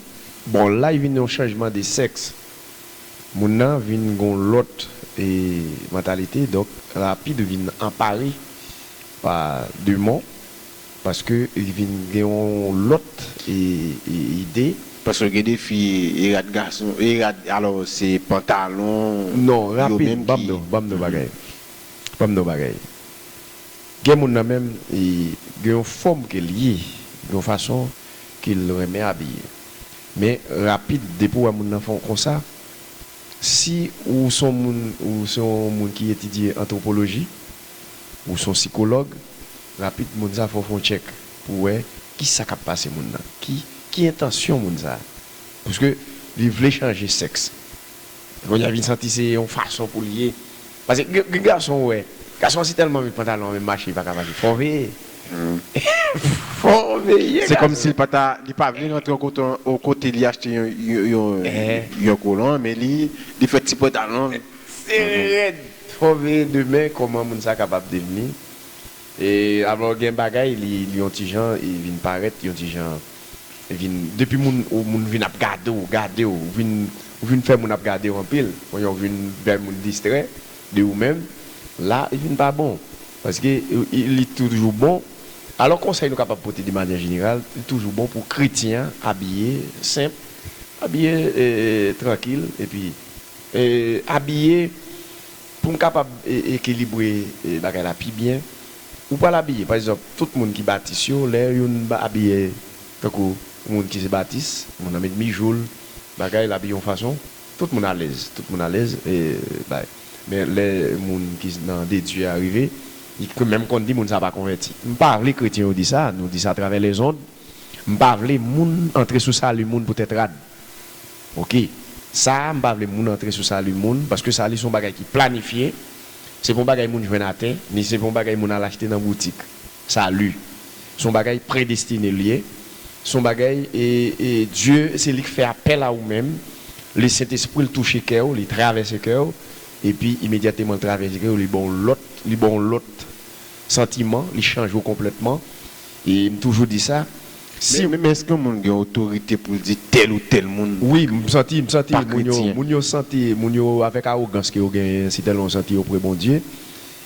Bon la vin yon chanjman de sèks. Moun nan vin gen yon lòt mantalite donk rapid vin anpare pa demon paske li vin gen yon lòt ide. Paske gen de fi e rad gason e rad alò se pantalon yo menm ki. Non rapid banm non bagay banm non bagay. Gen moun nan menm gen yon fòm ke l ye, gen yon fason ke l renmen abiye. Men rapid depi w wè moun nan fè yon konsa, si ou se yon moun, ou se yon moun ki etidye antwopoloji, ou se yon sikològ, rapid moun sa fè w fè yon tchèk pou w wè kisa k ap pase moun nan, ki entansyon moun sa. Pwiske li vle chanje sèks, Konya vin santi se yon fason poul ye pase gen gason ou wè gason an si tèlman met pantalon an menm mache li paka mache fòw veye fòw veye Se kòmsi li pata li pa vle rantre yon kote li achte yon kolon men li fè ti pantalon l sere rèd fòw veye demen kòman moun sa kapab devni. E alò gen bagay li li yon ti jan e vin parèt yon ti jan vin depi moun ou moun vin ap gade w gade w ou vin ou vin fè moun ap gade w anpil ou yon vin fè moun distrè de ou menm la li vin pa bon paske li toujou bon alò konsèy nou kapab pote de manyè jeneral li toujou bon pou kretyen an abiye senp abiye e trankil epi e abiye. Pou m kapab ekilibre bagay la pi byen, ou pral abiye, pa egzanp, tout moun ki Batis yo, lè youn abiye tankou moun ki se Batis, moun nan met bijou l, bagay, l abiye yon fason, tout moun alèz, tout moun alèz, e bay. Men, lè moun ki nan de Dye a rive, li menm konn di moun sa a pa konvèti. M pa vle kretyen yo di sa, nou di sa atravè lèzond, m pa vle moun antre sou sali moun poutèt rad. Ok sa a m pa vle moun antre sou sali moun paske sali se yon bagay ki planifye se pa yon bagay moun jwenn atè ni se pa yon bagay moun al achte nan boutik sali se yon bagay predestine li ye se yon bagay e Dye se li k fè apèl a ou menm li sentespri l touche kè w li travèse kè w epi imedyatman l travèse kè w li ba w lòt li ba w lòt santiman li chanje w konplètman. E m toujou di sa, si. Men èske yon moun gen otorite pou l di tèl ou tèl moun. Wi, m santi, m santi moun yo, moun yo santi, moun yo avèk awogans ke yo genyen si tèlman yo santi yo pre Bondye,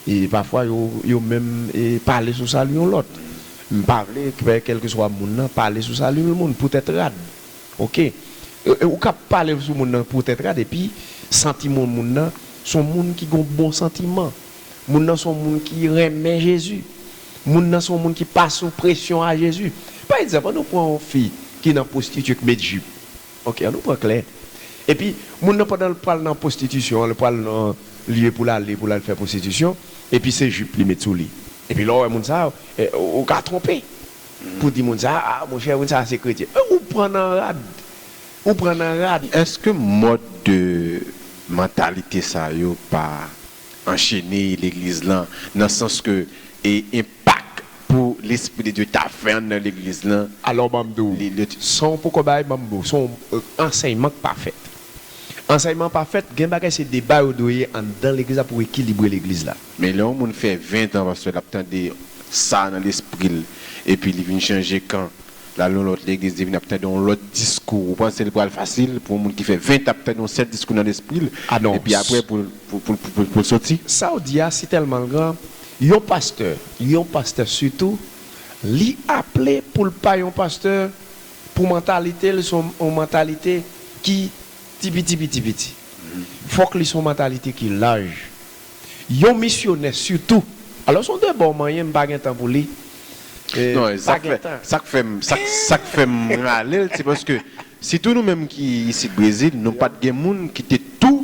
e pafwa yo, yo menm e pale sou sali yon lòt. M pa vle fè kèlkeswa moun nan pale sou sali yon moun poutèt rad. Ok. Ou ka pale sou moun nan poutèt rad epi santiman moun nan s on moun ki gen yon bon santiman. Moun nan s on moun ki renmen Jezi. Moun nan se yon moun ki pa sou presyon a Jezi. Pa egzanp, an nou pran yon fi ki nan pwostitye k met jip. Ok, an nou pran klè. Epi, moun nan pandan l pral nan pwostitisyon an, l pral nan lye pou l ale pou l al fè pwostitisyon, epi se jip li met sou li. Epi lè w wè moun sa yo, ou ka twonpe pou w di moun sa a, monchè, moun sa a se kretyen. Men ou pran nan rad. Ou pran nan rad. Èske mòd de mantalite sa yo pa Anchene legliz lan nan sans ke e enpak pou lespri de Dye ta fè an nan legliz lan. Alò banm di w, san w poko bay banm di w, son ansèyman k pa fèt. Ansèyman an pa fèt, gen bagay se deba yo dwe ye anndan legliz la pou ekilibre legliz la. Men lè yon moun fè 20 tan pastè l ap tande sa nan lespri l epi li vin chanje kan Lal nan lòt legliz li vin ap tande yon lòt diskou ou panse li pral fasil pou yon moun ki fè 20 t ap tande yon sèl diskou nan lespri l epi aprè pou l soti. Saw di a si tèlman l gran yon pastè yon pastè sitou li aple pou l pa yon pastè pou mantalite l son yon mantalite ki ti piti piti piti fòk li son mantalite ki laj. Yon misyonè sitou. Alos on deba w manyen m pa gen tan pou li. Non e pa gen tan. Sak fem sak fem rale l se paske sitou nou menm ki isit Brezil nou pat gen moun ki te tou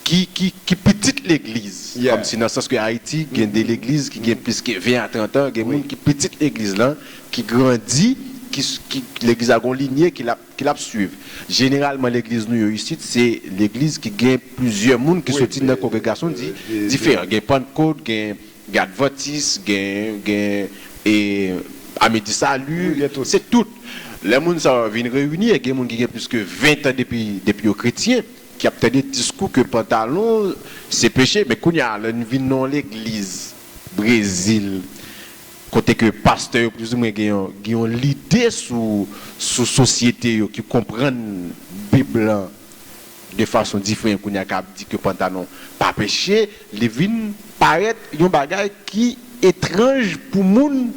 ki pitit legliz kom si nan sans ke Ayiti gen de legliz ki gen plis ke 20 a 30 an gen moun ki pitit legliz lan ki grandi ki legliz la gon linye ki la ki l ap suiv. Jeneralman legliz nou yo isit se legliz ki gen plizyè moun ki soti nan kongregasyon diferan. Gen Pantkot, gen Advantis, gen gen e Ami di Sali, se tout. Lè moun sa yo vin reyini e gen moun ki gen plis ke 20 tan depi depi yo kretyen ki ap tande diskou ke pantalon se peche men kounye a lè n vin nan yon legliz Brezil Kote ke pastè yo plouzimwen gen yon gen yon lide sou sou sosyete yo ki konprann bib lan de fason diferen kounye a ka ap di ke pantalon pa peche li vin parèt yon bagay ki etranj pou moun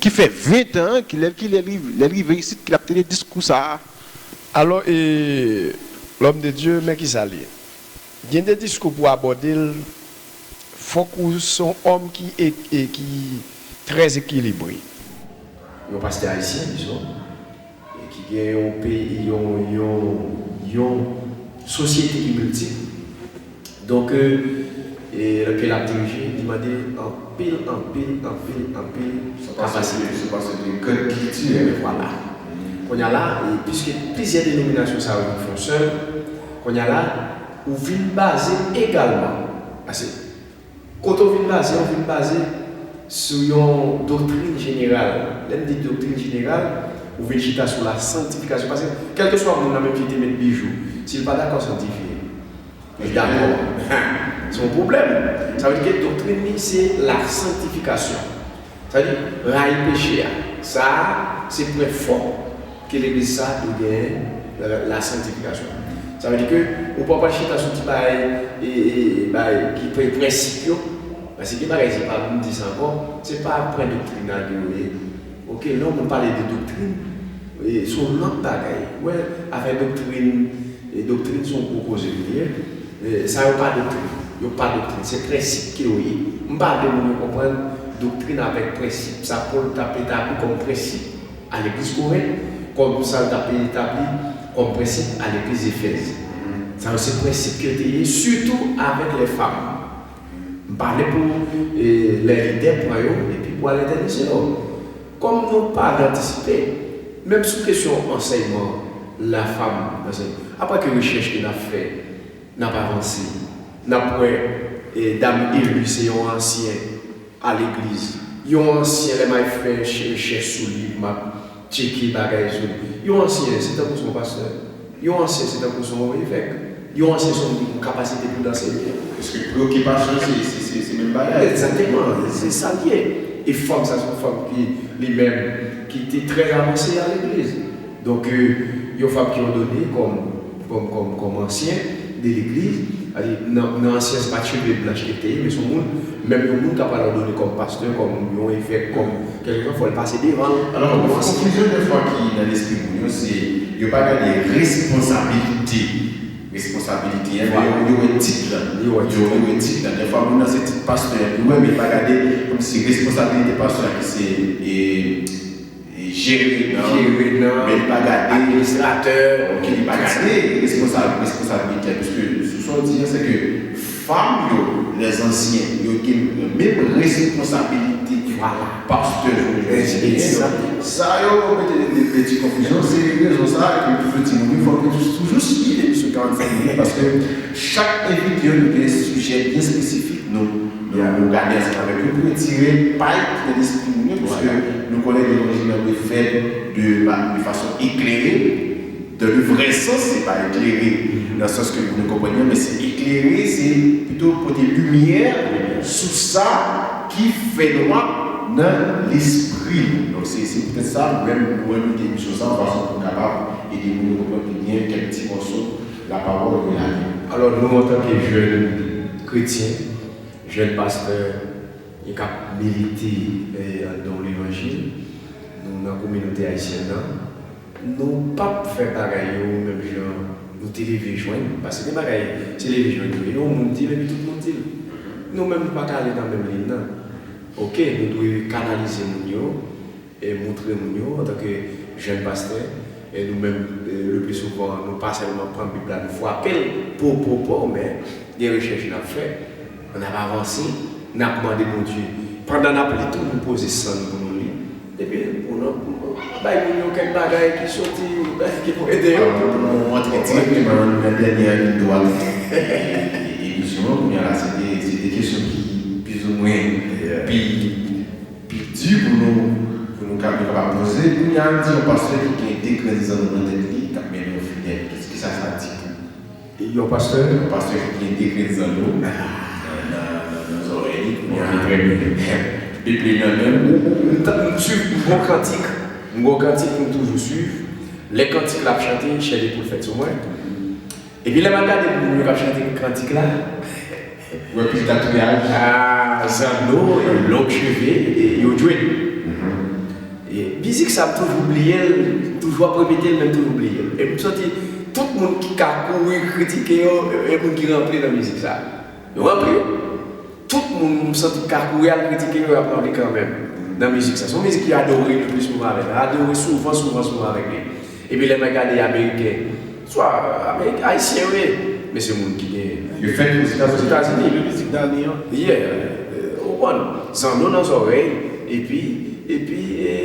ki fè 20 tan an ki lè ki lè li lè li rive isit ki l ap tende diskou sa a. Alò e L'homme de Dieu men kisa li. Gen de diskou pou abòde l fòk ou se yon òm ki e ki trè ekilibre. Yon pastè ayisyen dizon e ki gen yon peyi yon yon yon sosyete ki miltip donk e ke l ap dirije li mande anpil anpil anpil anpil kapasite. Se pase de kèk kiltirèl. Vwala. Kounye a la e piske plizyè denominasyon sa yo vin fè yon sèl. Konya la ou vin baze egalman, pase kote ou vin baze ou vin baze sou yon doktrin jeneral. Lè m di doktrin jeneral, ou vin chita sou la sanktifikasyon. Pase kèlkeswa moun nan menm ki te met bijou, si l pa dakò sanktifye, li dakò, se yon pwoblèm. Sa vle di ke doktrin li se la sanktifikasyon. Sa vle di, rayi peche a. Sa a, se pwen fò ke legliz sa a dwe genyen nan lasantifikasyon li. Sa vle di ke ou pa pral chita sou ti bagay e, e, bagay ki pre, prensip yo, paske bagay se pa vin di sa ankò, se pa pwen doktrinal ke yo ye. Ok, lè yon moun pale de doktrin, e, se yon lòt bagay. Ou wè, afè doktrin, e, doktrin se yon gwo koze li ye. Sa yo pa doktrin. Yo pa doktrin. Se prensip ke yo ye. M pa vle moun yo konprann doktrin avèk prensip. Sa Pòl t ap etabli kòm prensip a legliz Korent, kòm sa l t ap etabli kòm prensip a legliz Efèz. Sa yo se prensip ke yo te ye, sitou avèk lè fam. M pale pou lè lide pran yo epi pou al etènize yo. Kòm nou pa al antisipe, menm sou kesyon ansèyman la fam ansèy, apre ke rechèch ke n ap fè, n ap avanse, n ap wè dam Elu se yon ansyen. a legliz yon ansyen lè may fè cherichè souli map tcheke bagay sou li yon ansyen se tankou son pastè yon ansyen se tankou son evèk yon ansyen son moun ki gon kapasite poul anseye. Eske preokipasyon se se menm bagay? Egzateman se sal ye e fanm sa son fanm ki li menm ki te trè avanse a legliz. Donk, yon fab ki òdone kòm, kòm, kòm, kòm ansyen de legliz, sètadi nan, nan ansyen se pa t cheve blanch li te ye, men se yon moun, menm yon moun ka pral òdone kòm pastè, kòm yon evèk, kòm kèlkeswa, fò l pase devan l Alò, kòm yon ansyen. Konfizyon dèfwa ki nan lespri moun yo se yo pa gade responsabilite, responsabilite an, men yo, yo wè tit lan. Yo wè tit lan. Yo wè tit lan. Dèfwa moun nan se tit pastè an li wè, men li pa gade kòmsi responsabilite pastè a ki se e. Jere nan, men li pa gade. Administratè, ok, li pa gade responsabilitè l. Piske sou sa w di an, sèke fanm yo, lèzansyen, yo te menm responsabilite ke pastè jounen jodi a genyen. Donk, sa yo mete nan de peti konfizyon, se rezon sa a ke toujou di moun yo fòk yo toujou suiv emisyon 45 minutes paske chak envite yo nou gen sijè byen espesifik nou. Ebyen an nou gade ansanm avèk yo pou nou tire pay ki nan lespri moun yo pwiske nou konnen levanjil an dwe fèt de de fason eklere, dan le vrè sans, se pa eklere nan sans ke nou konprann yo men se eklere se pito pote limyè sou sa ki fènwa nan lespri nou. Donk se se poutèt sa nou menm nou envite emisyon sa an fason pou nou kapab ede moun yo konprann pi byen kèk ti mòso. Lapawòl gen lavi. Alò nou antanke jèn kretyen, jèn pastè e k ap milite anndan levanjil nou nan kominote ayisyèn nan, nou p ap fè bagay yo menm jan nou te leve jwenn, paske gen bagay se leve jwenn yo ye, yon moun di l epi tout moun di l. Nou menm nou pa ka ale nan menm liy nan. Oke nou dwe kanalize moun yo. moutre moun yo antanke jèn pastè nou menm lepli souvan nou pa sèlman pran bib la nou fwapel po po po men gen rechèch nap fè nap avanse nap mande Bondye pandan nap li tou nou poze san nou pou nou li epi pou nou bay moun yo kèk bagay ki soti ki pou ede yo pou nou antre dirèkteman nan dènyè liy dwat emisyon an kounyela se de kesyon ki pizoumwen pi. Pi di pou nou pou nou ka nou kapab poze kounya an di yon pastè ki gen de grenn zanno nan tèt li kap mennen yon fidèl ki ki sa sa di pou yon pastè yon pastè ki gen de grenn zanno nan nan zòrèy li kounya an trè byen bib li nan menm ou ou m ta m swiv m gon kantik m gon kantik m toujou swiv lè kantik la ap chante chè li poul fèt sou mwen. Epi lè map gade moun yo kap chante kantik la ou wè pil tatouage. Aah zanno e long cheve yo jwenn e mizik sa m toujou bliyel m toujou ap repetel men m toujou bliyel e m santi tout moun ki ka kouri kritike yo e moun ki rantre nan mizik sa. Nou rantre, tout moun m santi ka kouri al kritike yo y ap ranpli kanmenm nan mizik sa. Se yon mizik ki adore le plis pou mwen avèk la, adore souvan souvan souvan avèk li. Epi lè mwen gade ameriken, swa ameriken, ayisyen yo ye, men se moun ki gen. Yo fèt Ozetazini. Le mizik dani an. Yeah, ou konprann. Zanno nan zòrèy, epi, epi e.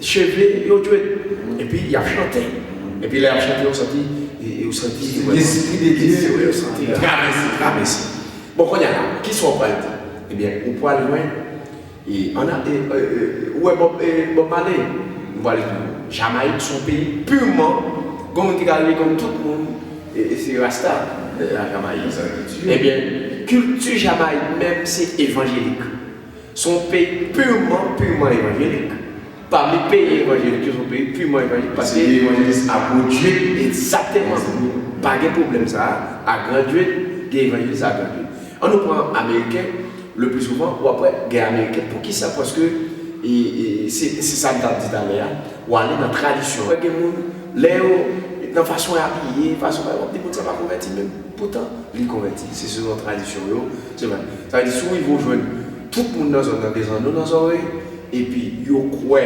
Cheve yo dwet epi yap chante epi lè yap chante ou santi ou santi lespri de Dye ou santi travèse travèse bon konnya la kisa ou pral di ebyen ou pral jwenn ou wè Bob Marley m pral di ou Jamayik son peyi purman gen moun ki ta rele kòm tout moun se rasta nan Jamayik ebyen kilti Jamayik menm se evanjelik. Se yon peyi purman, purman evanjelik. Pami peyi evanjelik yo, se yon peyi purman evanjelik paske. Se peyi evanjelis a gwo djwil. Ekzakteman. Pa gen pwoblèm sa a. A gran djwil, gen evanjelis a gran djwil. An nou pran ameriken, le pli souvan, w ap wè gen ameriken. Poukisa? Paske se sa m t ap di talè a, w ale nan tradisyon. Wè gen moun, lè yo, nan fason y abiye, fason w ap di moun sa pa konvèti menm. Poutan, li konvèti. Se selon tradisyon yo. Se vre. Sa vle di si w rive w jwenn tout moun nan zòn nan gen zanno nan zòrèy epi yo kwè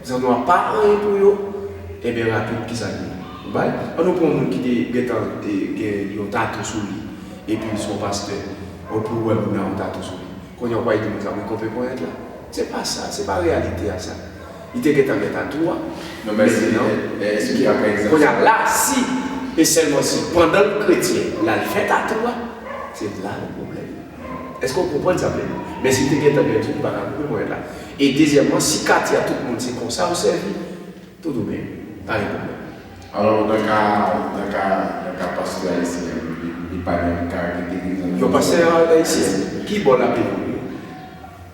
zanno a pa anyen pou yo, enben rapid ki sa ki pou bay? An nou pran yon moun ki te gen tan gen yon tatou sou li epi se yon pastè o pou wè moun nan yon tatou sou li. Kounye a ou pral di moun sa wi konpe ponyèt la? Se pa sa, se pa reyalite a sa. Li te gentan gen tatou a. Non men se non. Men esplike a pa egzanp. Kounye a la si e sèlman si pandan l kretyen l al fè tatou a, se la gen pwoblèm. Èske ou konprann sa m vle di? Men si l te gentan gen tou li pa ka koupe ponyèt la. E dezyèmman si katye a tout moun se konsa yo sèvi, tout ou byen. Pa gen pwoblèm. Alò nan ka nan ka nan ka pastè ayisyen an li pa gen karakteristik egzanp. Yon pastè ayisyen? Ki bò l ap evolye?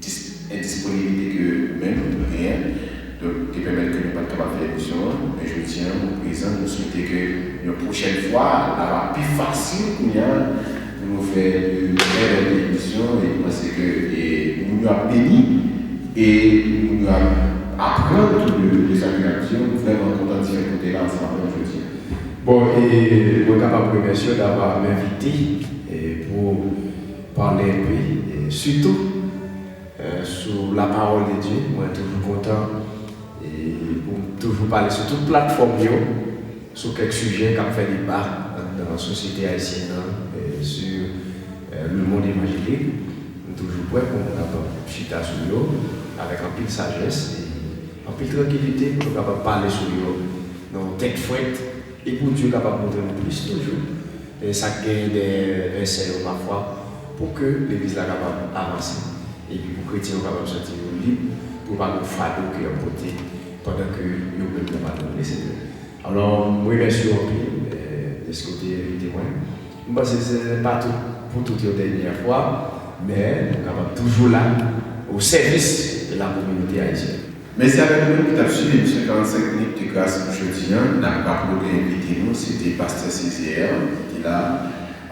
10 endisponiblite ke ou menm ou genyen donk te pèmèt ke nou pat kapab fè emisyon an men jodi an ou prezan nou swete ke yon pwochèn fwa la va pi fasil kounye a pou nou fè de trè bèl emisyon e nou panse ke moun yo ap beni e moun yo ap aprann tou de sa ke nap di yo m vrèman kontan ti fè kote la ansanm avèw jodi a. Bon e mwen kapab remèsyew davwa menvite pou. Pale enpe sitou sou la parole de Dieu mwen toujou kontan poum toujou pale sou tout platfòm yo sou kèk sijè kap fè deba anndan sosyete ayisyèn nan sou le monde évangélique m toujou prè poum kapab chita sou yo avèk anpil sajès e anpil trankilite pou nou kapab pale sou yo nan yon tèt frèt e pou Dieu kapab montre nou plis toujou. E sa k genyen dèyè vèsè yo pafwa, pou ke Legliz la kapab avanse, epi pou kretyen yo kapab santi yo lib, pou yo pa gen yon fado ke y ap pote, pandan ke yo menm nan pa konn Lesenyè. Alò, m remèsye w anpil dèske w te envite mwen. M panse se pa tout pou tout yon dènyè fwa, men nou kapab toujou la o sèvis de la kominote ayisyèn. Mèsi avèk nou menm ki tap swiv emisyon 45 minutes de grâce pou jodi an. Nap raple envite nou se te Pastè Césaire ki te la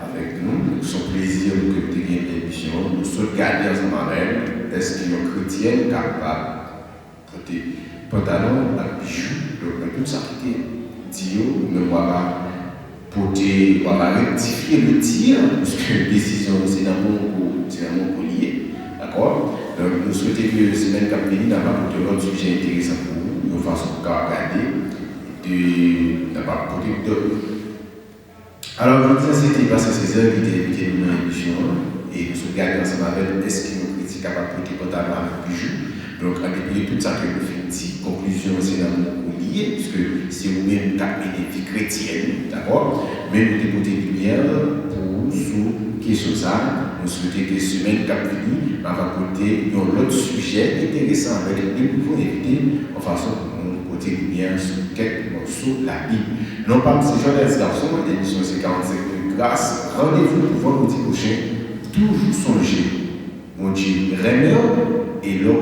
avèk nou. Donk son plezi pou ke nou te gen pèmisyon an pou nou sot gade ansanm avè l èske yon kretyèn kapab pote pantalon ak bijou. Donk nan tout sa ki te di yo nou menm wa pa Kote wap al rektifye le tir puisque desizyon nou se nan moun kou se nan moun kou li ye dakò donk nou swete ke semèn kap vini nap apote lòt sijè enteresan pou ou yon fason pou kapab gade de nap ap pote dòt alò jodi an se te Pasteur Cesaire ki te envite nou nan emisyon an e nou sot gade ansanm avèl eske yon kritik kapab pote pantalon avèk bijou. Donk an depi de tout sa ke nou fin di, konklizyon an se nan men ou li ye, pwiske se ou menm k'ap mennen vi kretyèn ou, dakò? Men nou te pote limyè pou ou sou kesyon sa, nou swete ke semèn k'ap vini m'a va pote yon lòt sijè enteresan avèk de nouvo envite, yon fason pou nou pote limyè sou kèk mòso Labib. Non pam se Jones Garçon, emisyon an se 45 minutes gras, randevou pou vandredi pwochen, toujou sonje Bondye renmen ou e lè w.